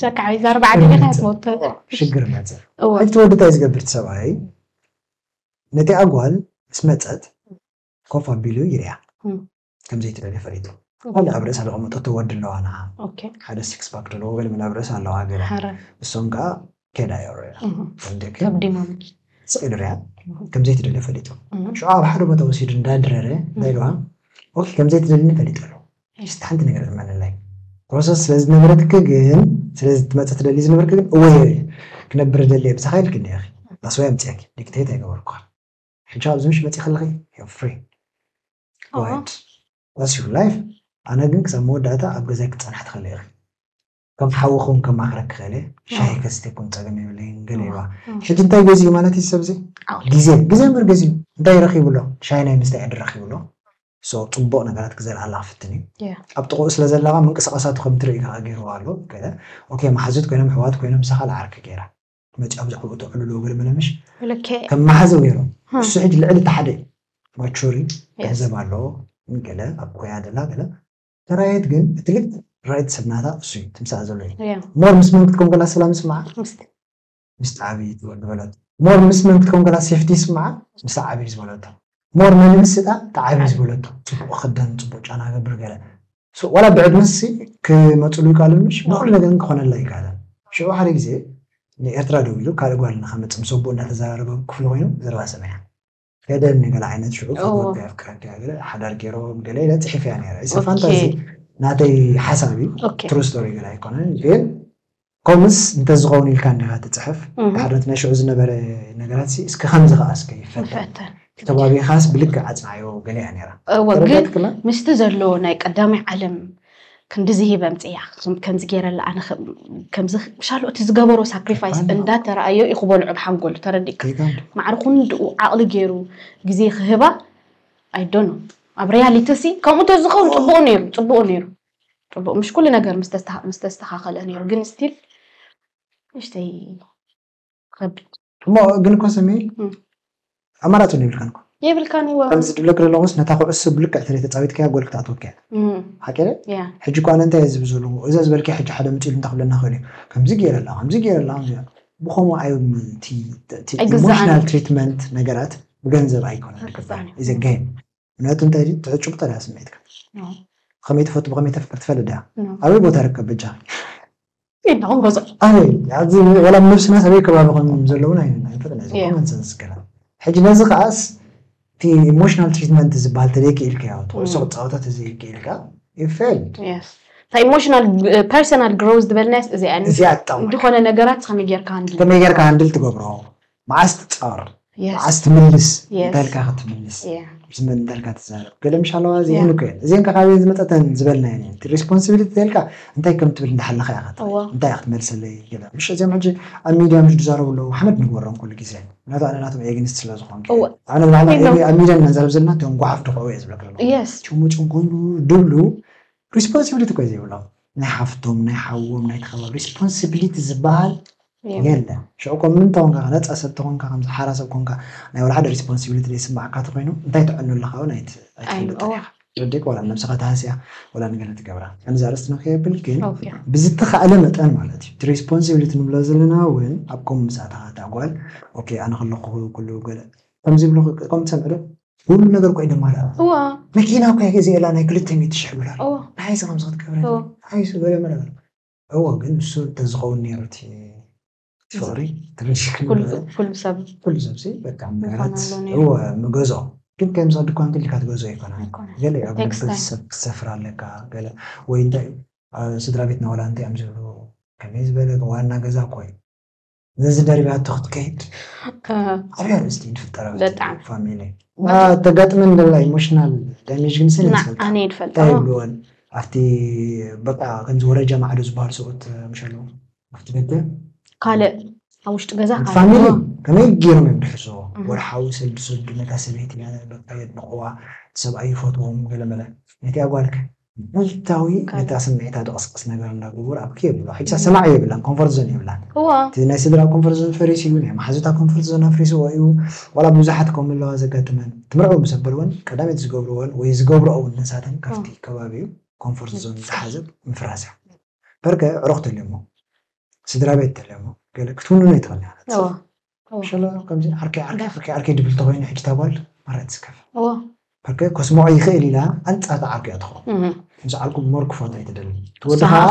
ጨካ ዓብይ ዛር ባዕዲ ኢኻ ትመውት ሽግር መፀ እወ እቲ ወዲ እንታይ ዝገብር እቲ ሰብኣይ ነቲ ኣጓል ምስ መፀት ኮፍ ኣቢሉ ይሪያ እም። ከምዘይትደልዮ ፈሊጡ ካልእ ኣብ ርእሳ ዘቐመጠቶ ወዲ ኣለዋ ንዓ ኦኬ ሓደ ሲክስ ፓክ ዘለዎ ገለ መለ ኣብ ርእሳ ኣለዋ ገለ ሓረ እሶም ከዓ ከዳ ይሪያ እህ፣ ከምደኪ ከብዲማ ስቕ ኢሉ ሪያ ከምዘይትደልዮ ፈሊጡ እህ፣ ሽዑ ኣብ ሓደ ቦታ ወሲዱ እንዳድረረ እንታይ ኢልዋ ኦኬ ከምዘይትደልኒ ፈሊጠ ኣለኹ ሕጂ እስቲ ሓንቲ ነገር እመነለይ ፕሮሰስ ስለ ዝነበረትኪ ግን ስለ ክትመጺ ትደልዪ ዝነበርኪ ግን እወ እየ ክነብር እደሊ እየ ብሳካ ኢልኪ እንዲኪ that's why ኣምጺኣኪ ዲክተይት ኣይገበርኩካን ሕጂ ኣብዚ ምሽ መጺኪ ኣለኪ you're free go ahead that's your life ኣነ ግን ክሳብ መወዳእታ ኣብ ገዛይ ክትጸንሒ ትክእሊ ኢኪ ከም ሓውኹም ከማኽረክ ክኽእል እየ ሻሂ ከስትየኩም ፀገም የብለይን ገለ ኢልዋ ሕጂ እንታይ ገዚኡ ማለት እዩ ሰብዚ ግዜ ግዜ እምበር ገዚኡ እንታይ ረኺቡ ኣሎ ሻሂ ናይ ምስታይ ዕድል ረኺቡ ኣሎ ሶ ፅቡቕ ነገራት ክዘርኣላ ክፍትን እዩ ኣብ ጥቕኡ ስለ ዘላ ኸ ምንቅስቓሳቱ ከም ትርኢ ከዓ ገይርዋ ኣሎ ገለ ኦኬ መሓዙት ኮይኖም ኣሕዋት ኮይኖም ንሳ ካልእ ዓርኪ ገይራ መጭ ኣብዛዕኡ ተዕልሎ ገለ መለምሽ ከም መሓዘ ገይሩ እሱ ሕጂ ልዕሊ እቲ ሓደ እዩ ማቹሪ ገንዘብ ኣለዎ ገለ ኣብ ኮያ ደላ ገለ ተራየት ግን እቲ ልክ ራይት ሰብ ናታ እሱ እዩ ትምሳእ ዘሎ እዩ እያ ሞር ምስ መን ክትከውን ከላ ሰላም ይስምዓ ምስቲ ምስ ዓብዪ ዝበ- ዝበለቶ ሞር ምስ መን ክትከውን ከላ ሴፍቲ ይስምዓ ምስ ዓብዪ ዝበለቶ ሞር ንንእስታ እቲ ዓብዪ ዝበለቶ ፅቡቅ ክደን ፅቡቅ ጫና ገብር ገለ ሶ ዋላ ብዕድመሲ ክመፅሉ ይከኣሉ ምሽ ንኩሉ ነገር ግን ክኾነላ ይከኣለን ሽዑ ሓደ ግዜ ንኤርትራ ደው ኢሉ ካልእ ጓል ንከመፅእ ምስ ኣቦኡ እንዳተዘራረበ ክፍሉ ኮይኑ ዘረባ ሰሚዐ ገደል ንገለ ዓይነት ሽዑ ፍትወት ኣፍቅረኪ ገለ ሓዳር ገይሮም ገለ ኢለ ፅሒፈያ ነይረ እዚ ፋንታዚ ናተይ ሓሳብ እዩ ትሩ ስቶሪ ገለ ኣይኮነን ግን ከምስ እንተዝኸውን ኢልካ እንዲኻ ትፅሕፍ ሓደት ናይ ሽዑ ዝነበረ ነገራት እስከ ከምዚ ከዓ እስከ ይፈተን ተባቢኻስ ብልክዕ ኣፅናዮ ገለ እያ ነይራ ግን ምስቲ ዘሎ ናይ ቀዳማይ ዓለም ክንድዚ ሂብ ኣምፅያ ከምዚ ገይረላ ኣነ ከምዚ ሻሎ እቲ ዝገበሮ ሳክሪፋይስ እንዳተረኣዮ እዩ ክበልዑ ብሓንጎሉ ተረዲእካ ማዕሪ ኩንድኡ ዓቕሊ ገይሩ ግዜ ክህባ ኣይዶኖ ኣብ ሪያሊቲ ሲ ከምኡ ተዝኸውን ፅቡቅ ነይሩ ፅቡቅ ነይሩ ፅቡቅ ምሽ ኩሉ ነገር ምስ ተስተካከለ ነይሩ ግን ስቲል ንእሽተይ ከቢድ እሞ ግን እኮ ስሚ እም። ኣማራፂ እውን የብልካን እኮ የብልካን ይዋ ከምዚ ዝብለኪ ዘለኹስ ነታ ኩዕሶ ብልክዕ ተለይ ተፃዊትካያ ጎል ክትኣትወኪ እያ እም፣ ሓቂ ድየ? ያ ሕጂ እኮ ኣነ እንታይ እየ ዝብል ዘለኹ እዛ ዝበልክያ ሕጂ ሓደ መፂኡ ኢሉ እንታይ ክብለና ይኽእል እዩ ከምዚ ገይረ ኣላ ከምዚ ገይረ ኣላ ከምዚ ገይረ ኣላ። ብኸምኡ ኣይ እቲ እቲ ኣይግዛእን ኢሞሽናል እዩ። ትሪትመንት ነገራት ብገንዘብ ኣይኮነን ኣይግዛእን እዩ። ኢዘ ገይም ምክንያቱ እንታይ ድዩ ትሑት ጭብጦ ድያ ስምዒትካ ብከመይ ትፈቱ ብከመይ ተፍቅር ትፈልጥ ድያ ኣበይ ቦታ ርከብ በጃ የለኹም ገዛ ኣበይ ኣብዚ ወላ ነብስና ሰበይ ከባቢ ከም ዘለውን ኣይንፈልጥን እዚ Yeah. ኮመን ሰንስ ገና ሕጂ ነዚ ከዓስ እቲ ኢሞሽናል ትሪትመንት ዝበሃል ተዘይክኢልካዮ ትኩዕሶ Mm. ክትፃወታ ተዘይክኢልካ ይፌል Yes. እታ ኢሞሽናል ፐርሰናል ግሮዝ ዝበልናያስ እዚኣ እዚኣ ትጠቕመካ ዝኾነ ነገራት ከመይ ጌርካ ሃንድል ከመይ ጌርካ ሃንድል ትገብሮ መዓስ ትፃወር መዓስ ትምልስ እንታይልካ ክትምልስ ዝመን እንታይልካ ትዛረብ ገለ ምሻለዋ እዚአን እኮ እየን እዚአን ካበየን ዝመፀተን ዝበልናየን እየን እቲ ሬስፖንሲቢሊቲ ተልካ እንታይ ከም ትብል እንዳሓለኻ እያ ከት እንታይ እያ ክትመልሰለይ ገለ ምሽ እዚኦም ሕጂ ኣብ ሚድያ ምሽ ዝዛረቡ ኣለዉ ሓመድ ንግበሮም ኩሉ ግዜ ምክንያቱ ኣነ ናቶም ኤግንስት ስለ ዝኾንኩ ኣነ ብላዕሊ ኣብ ሚድያ እናንዛረብ ዘለና እቶም ጓሓፍ ድኽዑ እየ ዝብለክ ዘለኹ ጭሙጭም ኮይኑ ድብሉ ሪስፖንሲብሊቲ እኮ እዩ ዘይብሎም ናይ ሓፍቶም ናይ ሓዎም ናይ ተኸባቢ ሪስፖንሲብሊቲ ዝበሃል የለን ሽዑ እኮ ምንታ ኮንካ ነፃ ሰብ ተኾንካ ከምዚ ሓራ ሰብ ኮንካ ናይ ወላ ሓደ ሪስፖንሲብሊቲ ዘይስማዓካ ተኾይኑ እንታይ ትዕኑ ኣለኻ እውን ኣይትፈልጥን ኢኻ ትርዲእካ ወላ ነብስኻ ትሃስያ ወላ ንገለ ትገብራ ከምዚ ኣርእስትና ከየብል ግን ብዝተኻእለ መጠን ማለት እዩ እቲ ሪስፖንሲብሊቲ ንብሎ ዘለና እውን ኣብ ከምኡ ምስ ኣተኻ እታ ጓል ኦኬ ኣነ ከለኹ ኩሉ ገለ ከምዚ ይብሉ ከምኡ ትሰምዕ ዶ ኩሉ ነገር ኮይኖማላ መኪና እኳ ይገዝኤላ ናይ ክልተ ሚእቲ ሽሕ ዶላር ንሓይሲ ከምዚ ክትገብረ ንሓይሱ ገለ መለ እዎ ግን ንሱ እንተዝኸውን ነይሩ እቲ ፍቕሪ ኩሉ ሰብ ሲ በቃ ምረት እዎ ምገዝኦ ግን ከምዚ ድኳን ክልካ ትገዝኦ ይኮና ገለ ኣብ ቤተሰብ ክትሰፍር ኣለካ ገለ ወይ እንታይ ስድራ ቤትና ዋላ እንታይ እዮም ዝብሉ ከመይ ዝበለ ዋና ገዛ እኮ እዩ ነዚ ደሪባቶ ክትከይድ ዓብያ ርእስቲ ንፍጠራ በጣም ፋሚሊ ተጋጥመን ደላ ኢሞሽናል ዳሜጅ ግን ስለ ይፈልጣ ኣነ ይፈልጣ እንታይ ይብልወን ኣብቲ በቃ ከምዚ ወረጃ ማዕዶ ዝበሃሉ ሰብኡት ምሽ ኣለዉ ኣብቲ ደገ ካልእ ኣብ ውሽጢ ገዛ ፋሚሊ ከመይ ገይሮም እዮም ድሕዝዎ ወርሓዊ ሰልዲ ሰዱ ነታ ሰበይቲ በቃ የድንቕዋ ሰብኣይ ይፈትዎም ገለመለ ነቲ ኣጓልከ መዓልታዊ ነታ ስምዒታ ድቕስቅስ ነገር እንዳገበሩ ኣብ ክይ ኣብልዋ ሕጂ ሰማዒ የብላን ኮንፎርት ዞን የብላን እወ እቲ ናይ ስድራ ኮንፎርት ዞን ፈሪሱ እዩ ናይ መሓዙታ ኮንፎርት ዞን ኣፍሪስዎ እዩ ዋላ ብዙሓት ከምኡ ኣለዋ ዘጋጥመን ትምርዕው ምስ ኣበልወን ቀዳሚት ዝገብርወን ወይ ዝገብርኦ ውን ንሳተን ካብቲ ከባቢኡ ኮንፎርት ዞን ዝሓዘት ምፍራስ እያ በርከ ኣዕሩኽ ተልዮሞ ስድራቤት ተልዮሞ ገለ ክትውንኖ ይትኽእል እያ ነቲ ሰብ እወ ሸሎ ከምዚ ዓርከይ ዓርከይ ዓርከይ ዓርከይ ድብል ተኮይኑ ሕጂ እታ ጓል ማራ ትስከፍ ዓርከይ ከስምዖ ይክእል ኢላ ኣንጻር እታ ዓርከይ እያ ትኮን ምስ ዓርኩ ሞር ክፈትዎ እዩ ትደሊ እቲ ወዲ ከዓ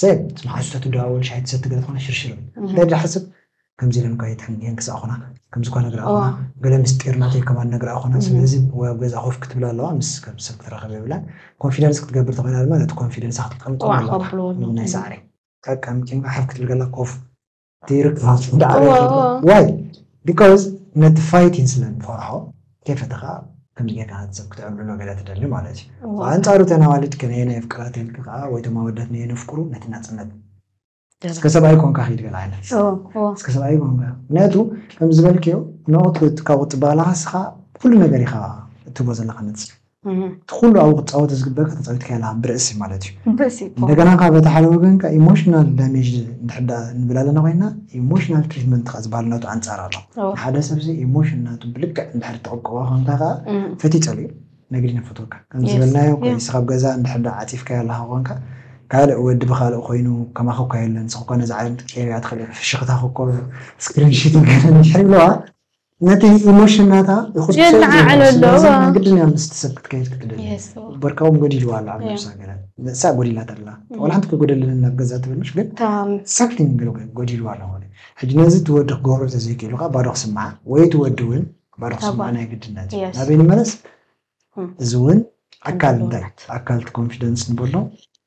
ሰብ ምስ መሓዙታ ትደዋወል ሻሂ ትሰቲ ገለ ትኮነ ሽርሽር እንታይ ድሓስብ ከምዚ ኢለን እኳ ይትሕንየን ክሳዕ ኮና ከምዚ እኳ ነግራ ኮና ገለ ምስጢር ናተይ ከማን ነግራ ኮና ስለዚ ወይ ኣብ ገዛ ኮፍ ክትብላ ኣለዋ ምስ ከም ሰብ ክትራኸብ የብላን ኮንፊደንስ ክትገብር ተኮይና ድማ ነቲ ኮንፊደንሳ ክትቀምጦ ኣለዋ ናይ ሳዕሪ ጠቀምቂ ሓፍ ክትብል ከላ ኮፍ ይርከብ ዳዕሮ ዋይ ቢኮዝ ነቲ ፋይቲን ስለ ንፈርሖ ከይፈተኻ ከምዚ ጌርካ ነቲ ሰብ ክትዕብልሎ ገለ ትደሊ ማለት እዩ ብኣንጻሩ እተን ኣዋልድ ከነየናይ የፍቅራ ተልኪ ከዓ ወይ እቶም ኣወዳት ነየን የፍቅሩ ነቲ ናጽነት እስከ ሰብኣይ ኮንካ ኪድ ገለ ዓይነት እስከ ሰብኣይ ኮንካ ምክንያቱ ከም ዝበልክዮ ንቑት ካብ ቁጥባ ኣለካ እስኻ ኩሉ ነገር ኢኻ እትቦ ዘለካ ነቲ እቲ ኩሉ ኣብኡ ክትጻወት ዝግበእካ ተጻዊትካዮ ኣለኻ ብርእሲ ማለት እዩ። ብርእሲ እኮ። እንደገና ከኣ በቲ ሓደ ወገን ከኣ ኢሞሽናል ዳሜጅ እንድሕር ደኣ ንብል ኣለና ኮይና ኢሞሽናል ትሪትመንት ከኣ ዝበሃል ናቱ ኣንጻር ኣሎ። ንሓደ ሰብሲ ኢሞሽን ናቱ ብልክዕ እንድሕር ትቕብኦ ኮንካ ከኣ ፈትዩ ጸሊኡ ነግዲ ነፈትወካ ከምዚ ዝበልናዮ ከሊስኻ ኣብ ገዛ እንድሕር ደኣ ዓጺፍካዮ ኣለኻ ኮንካ ካልእ ወዲ ብኻልእ ኮይኑ ከማኺ እኮ የለን ንስኺ እኮ ነዚ ዓለም ክትቅይርያ ትኽእሊ ፍሽኽታኺ እኮ ስክሪንሽት ገለ እንድሕር ይብልዋ ነቲ ኢሞሽን ናታ ይኹስኩሶ የለዓዕሎ ኣሎ። ስለዚ እዋ። ግድን እያ ምስቲ ሰብ ክትከይድ ክትደሊ የስዋ። በርካ እውን ጎዲልዋ ኣሎ ኣብ እያ። ነብሳ ገለ ንሳ ጎዲላታ ኣላ ዋላ ሓንቲ ከይጎደለኒ ናብ ገዛ ትብል ምሽ ግን እታ ሳክቲንግ ገለ ጎ- ጎዲልዋ ኣሎ ኮነ ሕጂ ነዚ እቲ ወዲ ክገብሮ እንተዘይክኢሉ ከዓ ባዶ ክስምዓ ወይ እቲ ወዲ እውን ባዶ እታ ክስምዓ ጓል። ናይ ግድነት እዩ Yes. ናበይ ንመለስ እም። እዚ እውን ኣካል እንታይ ኣካል እቲ ኮንፊደንስ ንበሎ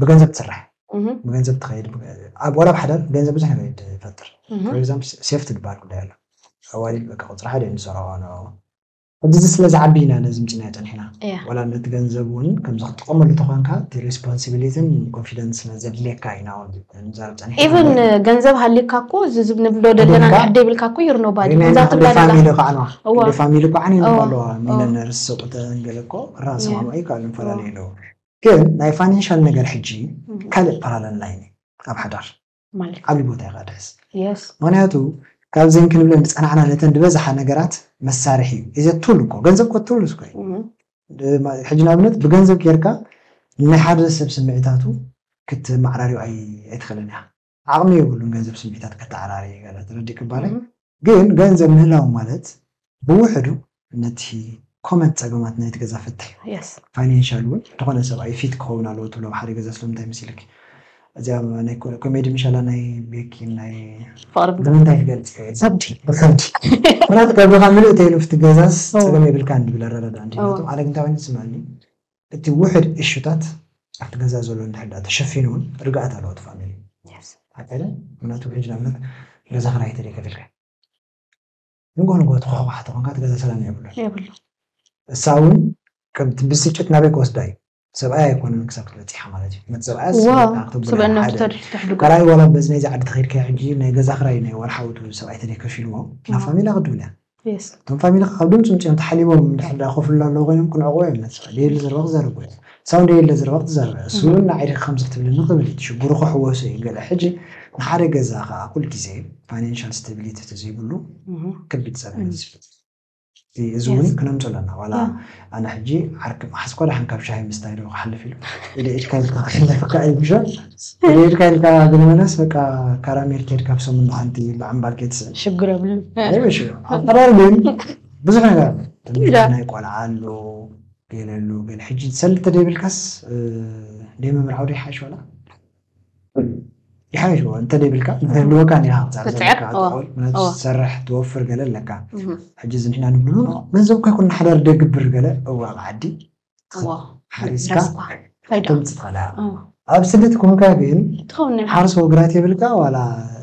ብገንዘብ ትስራሕ ብገንዘብ ትኸይድ ኣብ ወላ ብሓዳር ገንዘብ ብዙሕ ነገር ይፈጥር ፎር ኤግዛምፕል ሴፍቲ ዝበሃል ጉዳይ ኣሎ ኣዋልድ በቃ ቁፅሪ ሓደ እዮም ዝሰርዖ ሕጂ እዚ ስለ ዝዓቢ ኢና ነዚ ምፅናዮ ፀኒሕና ወላ ነቲ ገንዘብ እውን ከምዚ ክትጥቀመሉ ተኾንካ እቲ ሬስፖንሲቢሊትን ኮንፊደንስ ስለ ዘድልየካ ኢና እውን ንዛረብ ፀኒሕና ኢቨን ገንዘብ ሃልዩካ እኮ እዚ ንብሎ ዘለና ንሕደ ይብልካ እኮ ይርኖ ባዲ ፋሚሊ ከዓ ፋሚሊ ከዓ ኣለዋ ሚለነርስ ሰቁተን ገለ እኮ ራሰማምዑ ይከኣሉ ንፈላለዩ ኣለዉ ግን ናይ ፋይናንሻል ነገር ሕጂ ካልእ ፓራለል ላይን እዩ ኣብ ሓዳር ማለት ዓብዪ ቦታ እዩ ከድሕዝ የስ ምክንያቱ ካብዘን ክንብለን ዝፀናዕና ነተን ዝበዝሓ ነገራት መሳርሒ እዩ እዚ ቱል እኮ ገንዘብ እኮ ቱል እኮ እዩ እም፣ ድማ- ሕጂ ንኣብነት ብገንዘብ ጌርካ ናይ ሓደ ሰብ ስምዒታቱ ክትመዓራርዮ ኣይ- ኣይትኽእልን ኢኻ ዓቕሚ የብሉን ገንዘብ ስምዒታት ከተዓራርይ ገለ ትረዲእ ክባለይ ግን ገንዘብ ምህላው ማለት ብውሕዱ ነቲ ኮመን ጸገማት ናይቲ ገዛ ፍትሕ ፋይናንሻል ውን ድኾነ ሰብኣይ ፊት ክኸውን ኣለዎ ትብሎ ኣብ ሓደ ገዛ ስለምንታይ መሲልኪ እዚኣ ናይ ኮሜዲ ምሻላ ናይ ቤኪን ናይ ፍቕሪ ብምንታይ ክገልጽ ብከብዲ ብከብዲ ምክንያቱ ከብድኻ ምልእ ተይሉ ፍቲ ገዛስ ጸገም የብልካን ድብል ኣረዳድኣ እንዲናቱ ኣነ ግን እንታይ ኮይኑ ዝስምዐኒ እቲ ውሕድ እሹታት ኣብቲ ገዛ ዘሎ እንድሕር ድኣ ተሸፊኑ ውን ርግኣት ኣለዎ እቲ ፋሚሊ ሓቀይ ድያ ምክንያቱ ሕጂ ንኣብነት ገዛ ክራይ ተለይ ከፊልካ ንግሆ ንግሆ ተኳሕኳሓ ተኮንካ እቲ ገዛ ሰላም የብሉን የብሉን እሳ ውን ከምቲ ብስጭት ናበይ ክወስዳ እዩ ሰብኣይ ኣይኮነን ክሳብ ክትበጺሓ ማለት እዩ ነቲ ሰብኣያ እዋ ስበኣያ ክትብላ ስበእና ሓደ ተሪፍ ተሕድጎ ካልኣይ ዋላ በዚ ናይዚ ዓዲ ተኸይድካ ሕጂ ናይ ገዛ ክራይ ናይ ወርሓዊ እቲ ሰብኣይ ተለይ ከፊልዎ ናብ ፋሚላ ክትብል እያ እቶም ፋሚሊኻ ካብ ድምጽ ውጺኦም ተሓሊቦም እንድሕር ድኣ ኮፍ ኢሎም ኣለዉ ኮይኖም ክንዕቑቦ እዮም ንጽዕር። ደየለ ዘረባ ክዛረብ ኮይኑ ሳውን ደየለ ዘረባ ክትዛረብ እያ። ስሙ እውን ንዓይ ዲኺ ከምዚ ክትብልኒ ክብል እቲ ሽግሩ ክሕወሶ እዩ ገለ። ሕጂ ንሓደ ገዛ ከኣ ኩል ግዜ ፋይናንሻል ስታቢሊቲ ተዘይብሉ ከቢድ ጸገም እዩ ዝፈጥር። እዚ እውን ክነምጾ ኣለና ዋላ ኣነ ሕጂ ዓርኪ ምሓዝኳ ደሓን ካብ ሻሂ ምስታይ ዶ ክሓልፍ ኢሉ ኢለ ኢድካ ኢልካ ክሕለፈካ እዩ ምሸ ኢለ ኢድካ ኢልካ ግንበለስ በቃ ካራሜል ከድካ ብ ሰሙን ንሓንቲ ምዕምባል ከይትስእን ሽግር የብሉን ኣይ ምሽ ኣብ ቀራር ግን ብዙሕ ነገር ኣሎ ትምህርቲ ናይ ቆልዓ ኣሎ ገለ ኣሎ ገለ ሕጂ ሰልዲ ተደይብልካስ ደይ ምምርዓው ዶ ይሓይሽ ዋላ ይሓይሽ እዎ እንተደይብልካ ንህልወካ ኒኻ ክትሰርሕ ክትስዕር፣ ዘለካ እዎ፣ ትኾን ምክንያቱ እዎ። ትሰርሕ ትወፍር ገለ ኣለካ እህ፣ ሕጂ እዚ ንሕና ንብሎ ገንዘብ እኳ ይኩን ንሓዳር ደግብር ገለ እዎ ኣብ ዓዲ እዎ፣ ሓሪስካ ረስኳ፣ ፋይዳ፣ ተምጽእ ትኽእል ኢኻ። እዎ፣ ኣብ ስደት ኮንካ ግን ትኸውን ናይ ሓርስ ወግራት የብልካ ዋላ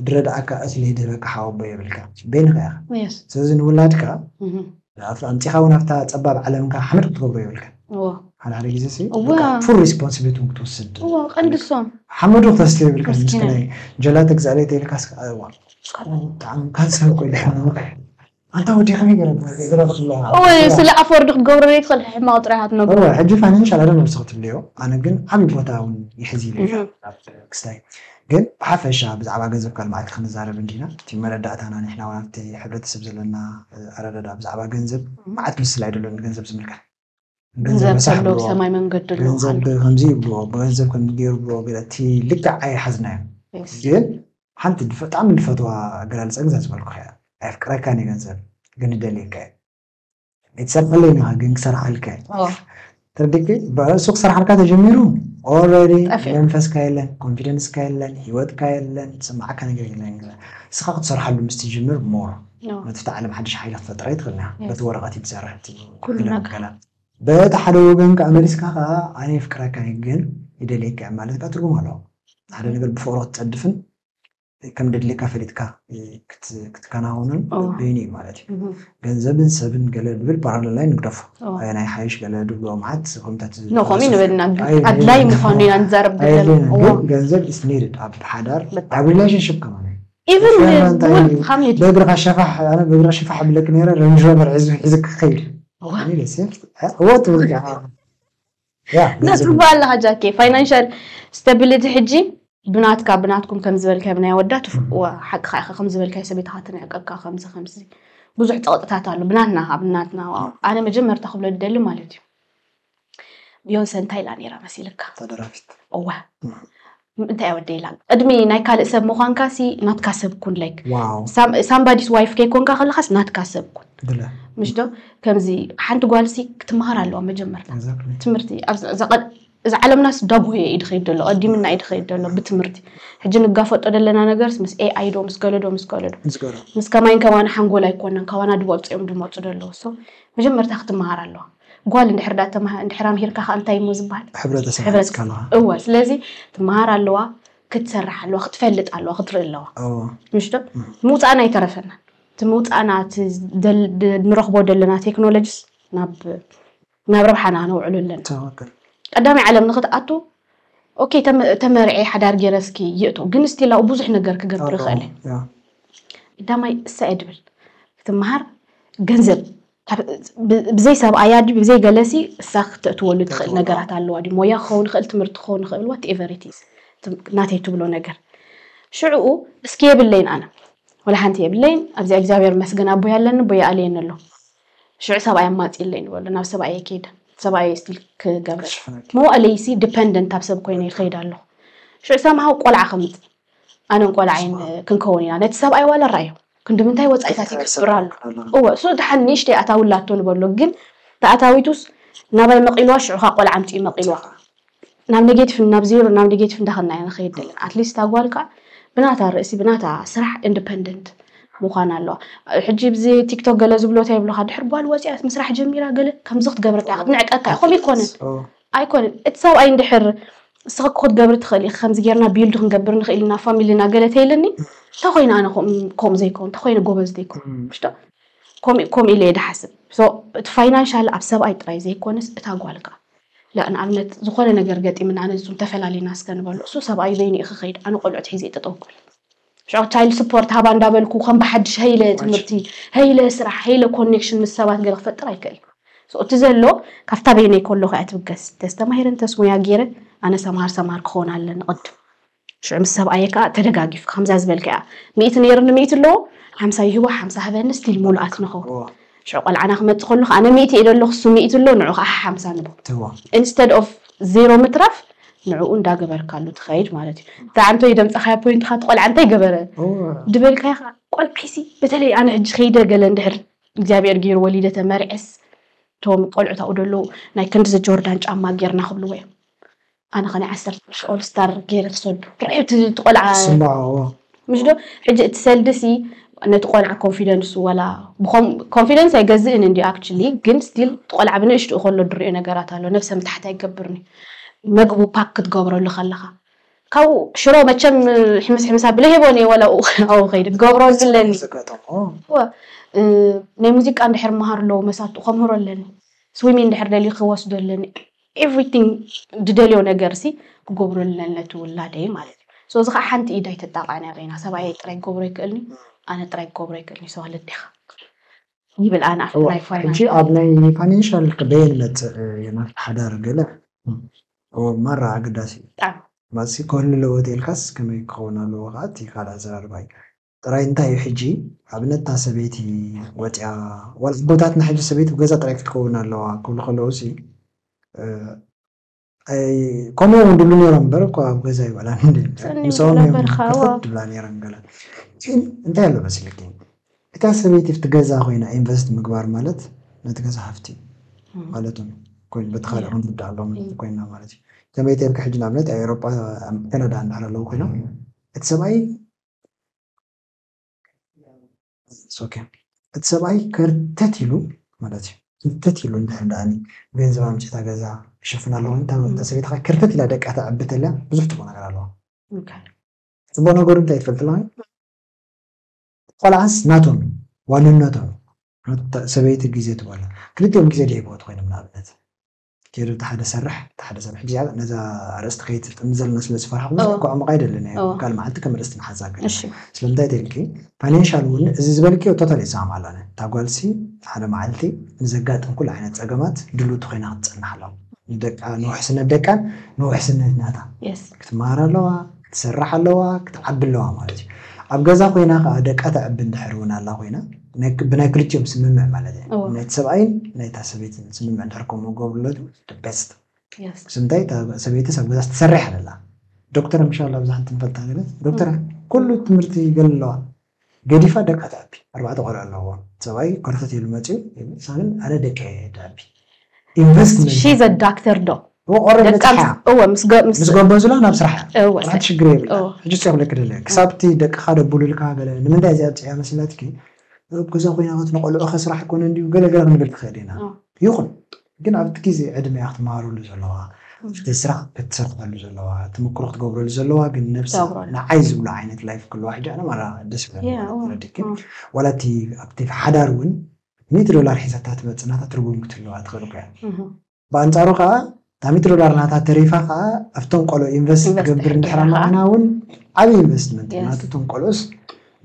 ድረድኣካ እኽሊ ድህበካ ሓወቦ የብልካ በይንኻ ኢኻ የስ፣ ስለዚ ንውላድካ እህ፣ ኣምጺኻ ውን ኣብታ ጸባብ ዓለምካ ሓመድ ክትገብሮ የብልካን እዎ ሓደ ሓደ ግዜ ሲ እወ። በቃ ፉል ሪስፖንሲቢሊቲ ውን ክትወስድ እዎ ቀንዲ እሶም ሓመዱ ክተስትዮ የብልካን ምስቲ ምስኪናይ። ናይ ጀላቲ ክግዝኣለይ ተይልካ ስክ ኣዋ ብጣዕሚ ካንሰር እኮ ኢለ ሕማቕ ኣንታ ወዲ ከመይ ገይረ ገረብ ክብላ እዎ ስለ ኣፎርድ ክትገብሮ ዘይትኽእል ሕማቕ ጥራይ ኢኻ ትነብሮ እወ ሕጂ ፋይናንሻል ኣይ ዶንት ኖው ንስኺ ትብልዮ ኣነ ግን ዓቢ ቦታ ውን ይሕዝ ኢለ እየ ኣብ ክስታይ ግን ብሓፈሻ ብዛዕባ ገንዘብ ቃል መዓልቲ ክንዛረብ እንዲና እቲ መረዳእታና ንሕና ውን ኣብቲ ሕብረተሰብ ዘለና ኣረዳድኣ ብዛዕባ ገንዘብ መዓት ምስላ ኣይደሎን ገንዘብ ዝምልከት ገንዘብ ረሳሕ ብልዎ ሰማይ መንገዲ ኣሎ ገንዘብ ከምዚ ይብልዎ ብገንዘብ ከምዚ ገይሩ ብልዎ ገለ እቲ ልክዕ ኣይሓዝናዮን ግን ሓንቲ ብጣዕሚ ንፈትዋ ኣገላልጻ ግን እዛ ዝበልኩኻ እያ ኣየፍቅረካን እየ ገንዘብ ግን እደልየካ እየ ኣይትሰርቀለይ ኢልካ ግን ክሰርሓልካ ተርዲኪ እሱ ክሰርሓልካ ተጀሚሩ ኦልሬዲ መንፈስካ የለን ኮንፊደንስካ የለን ሂወትካ የለን ዝስማዓካ ነገር የለን እስኻ ክትሰርሓሉ ምስ ትጅምር ሞር ነቲ ዓለም ሓድሽ ሓይሊ ክፈጥረ ይትኽእልና በቲ ወረቐት እዩ ትሰርሕ ገላ በቲ ሓደ ወገን ከዓ መሊስካ ከዓ ኣነ የፍቅረካ ግን ይደልየካ ማለት ከዓ ትርጉም ኣለዎ ሓደ ነገር ብፍቅሮ ክትፀድፍን ከም ደድሌካ ፈሊጥካ ክትከናውንን በይኑ እዩ ማለት እዩ ገንዘብን ሰብን ገለ ንብል ፓራለል ላይ ንግደፎ ኣየና ይሓይሽ ገለ ድብሎ መዓት ኮምታት ንኸምኡ ንበልና ኣድላይ ምዃኑ ኢና ንዛረብ ግን ገንዘብ ኢስ ኒድድ ኣብ ሓዳር ኣብ ሪሌሽንሽፕ ከማን በእግርኻ ሸፋሕ ኣነ በእግርኻ ሸፋሕ ብለክ ነረ ረንጅ ሮቨር ሒዙ ሒዝክ ክኸይድ ወት ያ ትብሎ ኣለኻ ጃኬ ፋይናንሻል ስታቢሊቲ ሕጂ ብናትካ ብናትኩም ከም ዝበልካዮ ብናይ ወዳ ሓቅኻ ኢኻ ከም ዝበልካዮ ሰበይትኻ ትንዕቀካ ከምዚ ከምዚ ብዙሕ ፀቕጥታት ኣሎ ብናትና ካብ ናትና ኣነ መጀመርታ ክብሎ ዝደሊ ማለት እዩ ቢዮንሰ እንታይ ኢላ ነይራ መሲልካ ተደራፊት እወ እንታይ እያ ወደይ ኢላ ቅድሚ ናይ ካልእ ሰብ ምዃንካ ሲ ናትካ ሰብ ኩን ላይክ ዋው ሳምባዲስ ዋይፍ ከይኮንካ ከለኻስ ናትካ ሰብ ኩን ብለ ምሽ ዶ ከምዚ ሓንቲ ጓል ሲ ክትመሃር ኣለዋ መጀመርታ exactly ትምህርቲ ኣብዚ- እዛ ቀ- እዚ ዓለምናስ ዳጎየ እዩ ድኸይድ ዘሎ ቀዲምና እዩ ድኸይድ ዘሎ ብትምህርቲ ሕጂ ንጋፈጦ ዘለና ነገርስ ምስ ኤኣይ ዶ ምስ ገለዶ ምስ ገለዶ ምስ ገለ ምስ ከማይን ከማን ሓንጎል ኣይኮነን ካባና ድበልፁ እዮም ድመፁ ደለዉ ሶ መጀመርታ ክትመሃር ኣለዋ ጓል እንድሕር ዳ ተማህ እንድሕር ኣምሂርካ ከኣ እንታይ እሞ ዝበሃል ሕብረተሰብ ሕብረት ሃንጽካ ኣለኻ እወ ስለዚ ትመሃር ኣለዋ ክትሰርሕ ኣለዋ ክትፈልጥ ኣለዋ ክትርኢ ኣለዋ እዎ ምሽ ዶ እም። ምውፃእና ኣይተረፈናን እቲ ምውፃእና እቲ ደል- ድ- ንረኽቦ ዘለና ቴክኖሎጂስ ናብ ናብ ረብሓና ነውዕሎ ኣለና ትክክል ቀዳማይ ዓለም ንክትኣቱ ኦኬ ተመ- ተመርዕየ ሓዳር ገይረ እስኪ ይእቶ ግን ስቲል ኣብኡ ብዙሕ ነገር ክገብር ኣለዎ ይኽእል እየ ያ ቀዳማይ እሰ እየ ድብል ክትመሃር ገንዘብ ብዘይ ሰብኣያ ድዩ ብዘይ ገለሲ እሳ ክተእትወሉ ትኽእል ነገራት ኣለዋ ድዩ ሞያ ክኸውን ይኽእል ትምህርቲ ክኸውን ይኽእል ዋት ኤቨር ኢትዝ ናተይ ትብሎ ነገር ሽዕኡ እስኪ የብለይን ኣነ ወላ ሓንቲ የብለይን ኣብዚ እግዚኣብሔር መስገን ኣቦይ ኣለኒ ቦይ ኣለየኒ ኣሎ ሽዑ ሰብኣይ ኣማፅለይ ንበሎ ናብ ሰብኣየ ከይደ ሰብኣየ ስቲል ክገብረ መዋእለይሲ ዲፐንደንት ኣብ ሰብ ኮይነ ይኸይድ ኣለኹ ሽዑ ሰምሃው ቆልዓ ከምፅ ኣነን ቆልዓይን ክንከውን ኢና ነቲ ሰብኣይ ዋላ ራኣዮ ክንድምንታይ ወጻኢታት ይገብር ኣሎ እወ እሱ ድሓን ንእሽተይ ኣታዊ ኣላቶ ንበሎ ግን ተኣታዊቱስ ናባይ መቂልዋ ሽዑ ከኣ ቆልዓ ኣምጺኡ መቂልዋ ናብ ኔጌቲቭ ናብ ዜሮ ናብ ኔጌቲቭ እንዳኸድና ኢና ንኸይድ ዘለና ኣትሊስት እታ ጓል ከኣ ብናታ ርእሲ ብናታ ስራሕ ኢንዲፐንደንት ምዃን ኣለዋ ሕጂ ብዚ ቲክቶክ ገለ ዝብሎ እንታይ ይብሉኻ ድሕር ጓል ወጺኣት ምስራሕ ጀሚራ ገለ ከምዚ ክትገብር እንታይ ክትንዕቀካ እዩ ከምኡ ኣይኮነን ኣይኮነን እቲ ሰብኣይ እንድሕር ንስኺ እኮ ክትገብሪ ትኽእሊ ኢኺ ከምዚ ጌርና ቢልድ ክንገብር ንኽእል ኢና ፋሚልና ገለ ተይልኒ እንተኾይነ ኣነ ከምኡ ዘይከውን እንተኾይነ ጎበዝ ዘይኮን ምሽዶ ከምኡ ከምኡ ኢለ እየ ድሓስብ ሶ እቲ ፋይናንሻል ኣብ ሰብኣይ ጥራይ ዘይኮነስ እታ ጓል ከዓ ላ ንኣብነት ዝኾነ ነገር ገጢምና ኣነ ንሱ ተፈላሊና እስከ ንበሎ እሱ ሰብኣዩ በይኑ እዩ ክኸይድ ኣነ ቆልዑት ሒዘ እየ ጠጠው ክብል ሽዑ ቻይልድ ስፖርት ሃባ እንዳበልኩ ከም ብሓድሽ ሀይለ ትምህርቲ፣ ሀይለ ስራሕ፣ ሀይለ ኮኔክሽን ምስ ሰባት ገለ ክፈጥር ኣይክእልን። So እቲ ዘሎ ካብታ በይነይ ከለኹ እያ ትብገስ። እንተዝተማሂረ እንተስ ሞያ ገይረ ኣነ ሰምሃር ሰምሃር ክኸውን ኣለኒ ቅድም። ሽዑ ምስ ሰብኣየይ ከኣ ተደጋጊፍካ ከምዛ ዝበልካያ ሚእቲ ነይሩኒ ሚእቲ ኣለዎ ሓምሳ ይህቦ ሓምሳ ሃበኒ ስቲል ምሉኣት ንኸውን። ሽዑ ቆልዓና ክመጽእ ከሎ ከኣ ኣነ ሚእቲ ኢለ ኣለኹ እሱ ሚእቲ ኣሎ ንዑ ከኣ ሓሓምሳ ንቦ ኢንስተድ ኦፍ ዜሮ ምትራፍ ንዕኡ እንዳገበርካሉ ትኸይድ ማለት እዩ እንታይ ዓንቶ ይደምፀኻያ ፖይንትኻ እቲ ቆልዓ እንታይ ገበረ ድበልካዮ ከዓ ቆልዓይሲ በተለይ ኣነ ሕጂ ከይደ ገለ እንድሕር እግዚኣብሔር ገይሩ ወሊደ ተመርዕስ እቶም ቆልዑት ኣብኡ ደለዉ ናይ ክንድዚ ጆርዳን ጫማ ጌርና ክብልዎ እዮም ኣነ ከ ናይ ዓሰርተ ቅርሺ ኦል ስታር ገይረ ክሰዱ ርኣዮ እቲ እቲ ቆልዓ ስማዖ ምሽ ዶ ሕጂ እቲ ሰልዲ ሲ ነቲ ቆልዓ ኮንፊደንሱ ወላ ብኮም ኮንፊደንስ ኣይገዝእን እንድዩ ኣክቹሊ ግን ስቲል እቲ ቆልዓ ብንእሽትኡ ከሎ ድሪኦ ነገራት ኣሎ ነብሰ ምትሓት ኣይገብርን እዩ መግቡ ፓክ ክትገብረሉ ከለኻ ካብኡ ሽሮ መቸም ሕምስ ሕምስ ኣብለ ሄቦን እየ ወላ ኣብኡ ከይደ ክገብሮ ዝለኒ ዝገጠሞ እወ እ፣ ናይ ሙዚቃ እንድሕር መሃር ኣለዎ መሳቱ ከምህሮ ኣለኒ ስዊሚን እንድሕር ደልዩ ክወስዶ ኣለኒ ኤቭሪቲንግ ድደልዮ ነገርሲ ክገብረለን ነቲ ውላደይ ማለት እዩ ሶ እዚ ከዓ ሓንቲ ኢድ ኣይትጣቃዕን ኣበይና ሰብኣየይ ጥራይ ክገብሮ ይክእልኒ ኣነ ጥራይ ክገብሮ ይክእልኒ ሶ ልዴካ ይብል ኣነ ኣብቲ ናይ ፋይናንስ ሕጂ ኣብ ናይ ፋይናንሻል በየን ይመጽእ የማን ሓዳር ገለ ኦር ማራ ኣገዳሲ እዩ ብጣዕሚ ማጽሲ ክህሉ ኣለዎ ተይልካስ ከመይ ክከውን ኣለዎ ከዓ እቲ ካልእ ኣዘራርባ እዩ ጥራይ እንታይ እዩ ሕጂ ኣብነት እታ ሰበይቲ ወጽያ ዋላ ኣቦታትና ሕጂ ሰበይቲ ብገዛ ጥራይ ክትከውን ኣለዋ ክብሉ ከለዉ ሲ ከምኡ ውን ድብሉ ነይሮም እምበር እኳ ኣብ ገዛ ይበላን ምስኦም እዮም ከፈት ድብላ ነይረን ገለ ግን እንታይ ኣሎ መሲልኪ እታ ሰበይቲ ብቲ ገዛ ኮይና ኢንቨስት ምግባር ማለት ነቲ ገዛ ሃፍቲ ማለት ዩ ኮይኑ በቲ ካልእ ክንርዳ ኣሎ ኮይና ማለት እዩ ከመይ ተልኪ ሕጂ ንኣብነት ኣብ ኤሮጳ ኣብ ካናዳ እንድሕር ኣለዉ ኮይኖም እቲ ሰብኣይ እቲ ሰብኣይ ከርተት ኢሉ ማለት እዩ ከርተት ኢሉ እንድሕር ደኣኒ ገንዘብ ኣምፂ እታ ገዛ ክሽፍና ኣለኹ እታ ሰበይቲ ከዓ ከርተት ኢላ ደቃ ተዕቢ ተልያ ብዙሕ ፅቡቅ ነገር ኣለዋ ፅቡቅ ነገሩ እንታይ ትፈልጥ ኣለዋ ቆልዓስ ናቶም ዋንነቶም ሰበይቲ ግዜ ትበሎ ክልቲኦም ግዜ ደይበወት ኮይኖም ንኣብነት ኬሩ እቲ ሓደ ሰርሕ እቲ ሓደ ሰብ ሕጂ ኣብ ነዛ ኣርእስቲ ከይትጥምዘልና ስለ ዝፈራሕኩ ብዙሕ እኮ ኣዕሙቕ ኣይደልን እየ እወ ካልእ መዓልቲ ከም ኣርእስቲ ንሓዛ ግን እሺ ስለምንታይ ተይልኪ ፋይናንሻል እውን እዚ ዝበልክዮ ቶታሊ ይሰማምዓሉ ኣነ እታ ጓልሲ ሓደ መዓልቲ ንዘጋጥም ኩሉ ዓይነት ጸገማት ድልውቲ ኮይና ክትጸንሕ ኣለዋ ንደቃ ንውሕስነት ደቃን ንውሕስነት ናታ የስ ክትመሃር ኣለዋ ክትሰርሕ ኣለዋ ክትዓቢ ኣለዋ ማለት እዩ ኣብ ገዛ ኮይና ከዓ ደቃ ተዕቢ እንድሕር እውን ኣላ ኮይና ብናይ ክልቲኦም ስምምዕ ማለት እዩ እዎ ናይቲ ሰብኣይን ናይታ ሰበይትን ስምምዕ እንድሕር ከምኡ ገብርለቱ the best የስ ምስ እንታይ እታ ሰበይትስ ኣብ ገዛስ ትሰርሕ ኣለላ ዶክተር ምሻላ ኣብዛ ሓንቲ ንፈልጣ ገለ ዶክተር ኩሉ ትምህርቲ ገለ ኣለዋ ገዲፋ ደቃ ተዕቢ ኣርባዕተ ቆልዑ ኣለዉዋ ሰብኣይ ከርተትሉ መጺኡ ንሳ ግን ኣነ ደቀይ እየ ተዕቢ ኢንቨስትመንት ሺዝ ኣ ዳክተር ዶ እወ ኦረዲ ደቃ በጺሓ ምስ- እወ ምስ ገ- ምስ- ምስ ጎበዙላ ናብ ስራሕ እያ እወ ወላ ሓንቲ ሽግር እወ የብላን ሕጂ እሱ እየ ክብለኪ ደለ ክሳብ እቲ ደቅኻ ደቡሉልካ ገለ ንምንታይ እዚኣ ኣብጺሕያ መሲላትኪ ኣብ ገዛ ኮይና ከትንቆልዑ ከስራሕ ኣይኮነን ድዩ ገለ ገለ ክንብል ንኽእል ኢና እወ ይኹን ግን ኣብቲ ግዜ ዕድመ እያ ክትመሃረሉ ዘለዋ፣ እቲ ስራሕ ክትሰርሓሉ ዘለዋ፣ እቲ ተመክሮ ክትገብረሉ ዘለዋ ግን ነብሳ ንዓይ ዝብሉ ዓይነት ላይፍ ክህልዋ ሕጂ ኣነ ማራ ደስ ይብለኒ ማለት ተረዲእኪ ዋላ እቲ ኣብቲ ሓዳር ውን ሚእቲ ዶላር ሒዛታ ትመጽእ ናታ ትርጉም ክትህልዋ ትኽእል እኮ እያ ብኣንጻሩ ከኣ እታ ሚእቲ ዶላር ናታ ተሪፋ ከኣ ኣብቶም ቆልዑ ኢንቨስት ክገብር እንድሕር ኣማዒና ውን ዓቢ ኢንቨስትመንት እዩ ናቱ እቶም ቆልዑስ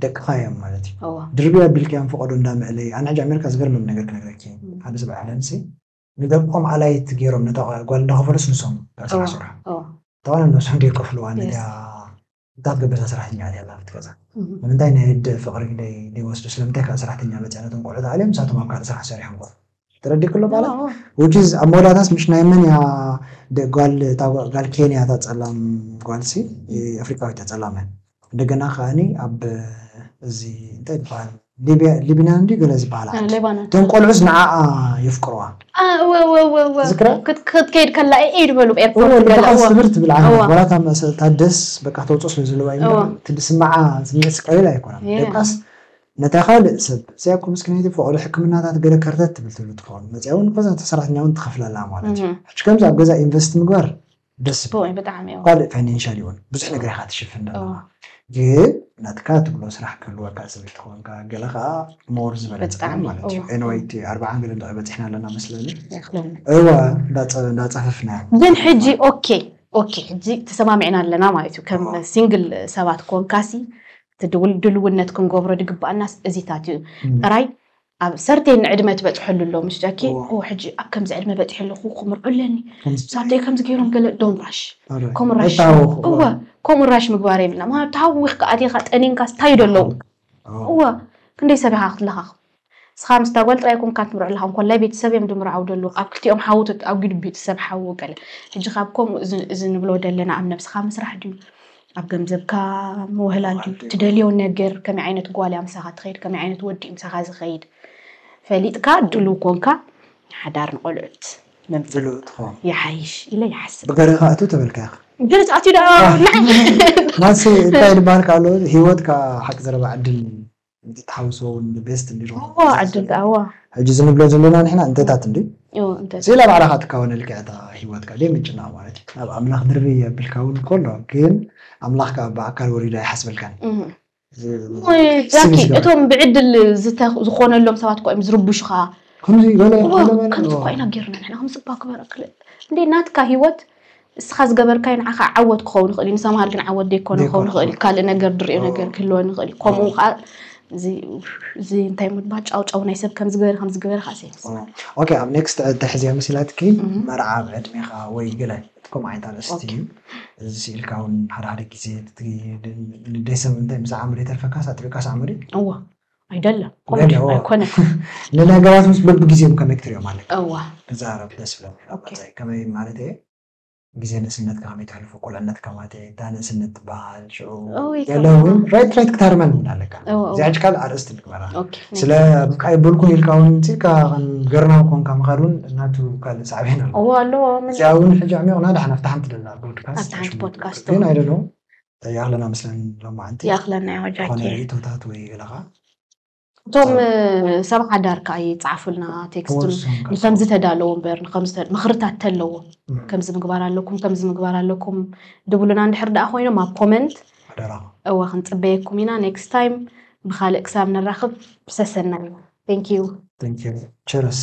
ደቅኻ እዮም ማለት እዩ እወ። ድርብይ ኣቢልካዮም ፈቀዶ እንዳ ምዕለይ ኣነ ሕጂ ኣሜርካ ዝገርመኒ ነገር ክነግረኪ ሓደ ሰብ ዓለምሲ ንደቆም ኣላይት ጌሮም ነታ ጓል እንዳ ከፈሉስ ንሶም እታ ስራሕ ዝሰርሑ እታ ጓል ንነብሶም ደይ ከፍልዋ ነታ እንታ ትገብርታ ሰራሕተኛ ኣትያ ኣላ ኣብቲ ገዛ ንምንታይ ናይ ኣደ ፍቅሪ ደይ ወስዱ ስለምንታይ ካልእ ሰራሕተኛ ኣመጽያ ነቶም ቆልዑት ኣልዮም ንሳቶም ኣብ ካልእ ስራሕ ሰሪሖም ክከፍሉ ተረዲኩ ኣሎ ቃላት which is ኣብ መወዳእታስ ምሽ ናይ መን እያ ጓል እታ ጓል ኬንያ እታ ጸላም ጓልሲ ኣፍሪቃዊት እያ ጸላም እያ እንደገና ከዓኒ ኣብ እዚ እንታይ ይበሃል ሊብያ ሊብናን ድዩ ገለ ዝበሃላ እ፣ ዓዲ ሌባኖን እቶም ቆልዑስ ንዓኣ የፍቅርዋ አ፣ እወ እወ እወ እወ ዝክራ ክት- ክትከይድ ከላ ኤድ በሉ እወ ኤርፖርት ገለ ልብኻ እወ ስብር ትብል ዓና እወ ዋላ እታ መእሰ- እታ ደስ በቃ ተውፅኦ ስለ ዘለዋ እዩ እምበር እወ እቲ ዝስምዓ ስምዒት ቀሊል ኣይኮነን የለ ደቃስ ነታ ካልእ ሰብ እዚኣ እኮ ምስኪነይቲ ፍቅሪ ሕክምናታት ገለ ከርተት ትብል ትብሉ ትከውን መጺኣ ውን ንኮዝ ነታ ሰራሕተኛ ውን ትከፍላ ኣለዋ ማለት እዩ ሕጂ ከምዚ ኣብ ገዛ ኢንቨስት ምግባር ደስ ዝብል እዩ ካልእ ፋይናንሻሊ ውን ብዙሕ ነገር ኢካ ትሽፍን ዘለካ ግን ናትካ ትብሎ ስራሕ ክህልወካ ስለ ዝተኮንካ ገለ ከኣ ሞር ዝበለጸ እዩ ማለት እዩ ኤንወይ እቲ ኣርብዓን ገለን ጥራይ በጺሕና ኣለና መስለኒ እወ እንዳ ጸፈፍና ግን ሕጂ ኦኬ ኦኬ ሕጂ ተሰማሚዕና ኣለና ማለት እዩ ከም ሲንግል ሰባት ኮንካሲ እቲ ድልውነት ክንገብሮ ዝግባኣናስ እዚታት እዩ ጥራይ ኣብ ሰርቴን ዕድመ ትበፅሐሉ ኣሎ ምስ ጃኪ ሕጂ ኣብ ከምዚ ዕድመ በፂሐ ኣለኹ ከምርዑ ኣለኒ ሳተይ ከምዚ ገይሮም ገለ ዶን ራሽ ከምኡ ራሽ እወ ከምኡ ራሽ ምግባር የብልና ምክንያቱ ተሃዊኽካ ኣቲኻ ጠኒንካስ እንታይ ዶ ኣለዉ እወ ክንደይ ሰብ ኢኻ ክትለኻኽ ንስኻ ምስ እታ ጓል ጥራይ ኮንካ ትምርዖ ኣለኻ እንኮላይ ቤተሰብ እዮም ድምርዓው ደለዉ ኣብ ክልቲኦም ሓዉ ተኣጒዱ ቤተሰብ ሓዉ ገለ ሕጂ ካብ ከምኡ እዚ እዚ ንብሎ ደለና ኣብ ነብስኻ ምስራሕ ድዩ ኣብ ገምዘብካ ምውህላል ድዩ ትደልዮ ነገር ከመይ ዓይነት ጓል እያ ምሳኻ ትኸይድ ከመይ ዓይነት ወዲ እዩ ምሳኻ ዝኸይድ ፈሊጥካ ድሉው ኮንካ ሓዳር ንቆልዑት ምምጻእ ይሓይሽ ኢለ ይሓስብ ብገረኻ ኣቱ ተበልካ ኢኻ ገለ ተኣትዩ ደኣ ማሲ እንታይ ልባሃልካ ኣሎ ሂወት ከኣ ሓቂ ዘረባ ዕድል እንተ ትሓውስዎ ውን ን ቤስት እንዲ ዶ እዋ ዕድል ደኣ እዋ። ሕጂ እዚ ንብሎ ዘለና ንሕና እንተታት እንድዩ እው እንተ። ስኢላ ባዕላኻ ትካወን ልክዕ እታ ሂወትካ ደይ ምጭናቕ ማለት እዩ ናብ ኣምላኽ ድርብይ የብልካ ውን እኮ ኣሎ ግን ኣምላኽ ከኣ ብኣካል ወሪዱ ኣይሓስበልካን እሞ ጃኪ እቶም ብዕድል ዝተ ዝኾነሎም ሰባት እኳ እዮም ዝርቡሹኻ ከምዚ ገለ ገለ ገለ ከምዚ እኳ ኢና ጌርና ንሕና ከምዚ እባ ግበር ኣክለ እንዴ ናትካ ሂወት ንስኻ ዝገበርካዮ ንዓኻ ዓወት ክኸውን ይኽእል እዩ፣ ንሰምሃል ግን ዓወት ዘይኮነ ክኸውን ይኽእል እዩ። ካልእ ነገር ዝርእዮ ነገር ክህልወን ይኽእል እዩ። ከምኡ ከዓ እዚ እንታይ ምባል ጫውጫው ናይ ሰብ ከምዚ ገበረ ከምዚ ገበረ ከዓ ሰይምስ ኦኬ ኣብ ኔክስት ተሕዝያ መሲላትኪ መርዓ ኣብ ዕድሜኻ ወይ ገለ እቲ ከምኡ ዓይነት ኣርእስቲ እዩ እዚ ስኢልካ እውን ሓደ ሓደ ግዜ ንደይ ሰብ እንታይ ምስ ዓምሪ የተርፈካስ ኣጥቢቕካስ ዓምሪ እዎ ኣይደለም ኣይኮነን ንነገራት ምስ በብግዜኦም ከመይ ክትሪኦ ማለት እዋ ክዛረብ ደስ ይብለኒ ኣባታይ ከመይ ማለት እየ ግዜ ንእስነትካ ከመይ ተሕልፎ ቁልዕነትካ ማለት እየ እታ ንእስነት ትበሃል ሽዑ ገለ እውን ራይት ራይት ክታርመን እውን ኣለካ እዚ ሕጂ ካልእ ኣርእስቲ ንግበራ ስለ በቃ ይበልኩ ኢልካ እውን እንስካ ገርናው ኮንካ ምኻድ እውን ናቱ ካልእ ሳዕቤን ኣለዎ እዚኣ እውን ሕጂ ዕሚቕና ድሓን ኣብቲ ሓንቲ ደላ ፖድካስት ግን ኣይደለዉ ይኣኽለና መስለን ሎማዓንቲ ይኣኽለና ዮ ጃኪ ዝኾነ ርእቶታት ወይ ገለኻ እቶም ሰብ ሓዳር ከዓ ይፅዓፉልና ቴክስት ንከም ዝተዳለዎ እምበር ምክርታት ተለዎ ከምዚ ምግባር ኣለኩም ከምዚ ምግባር ኣለኩም ድብሉና እንድሕር ደኣ ኮይኖም ኣብ ኮመንት እወ ክንፅበየኩም ኢና ኔክስት ታይም ብካልእ ክሳብ ንራኽብ ሰሰናዩ ቴንኪዩ ቸርስ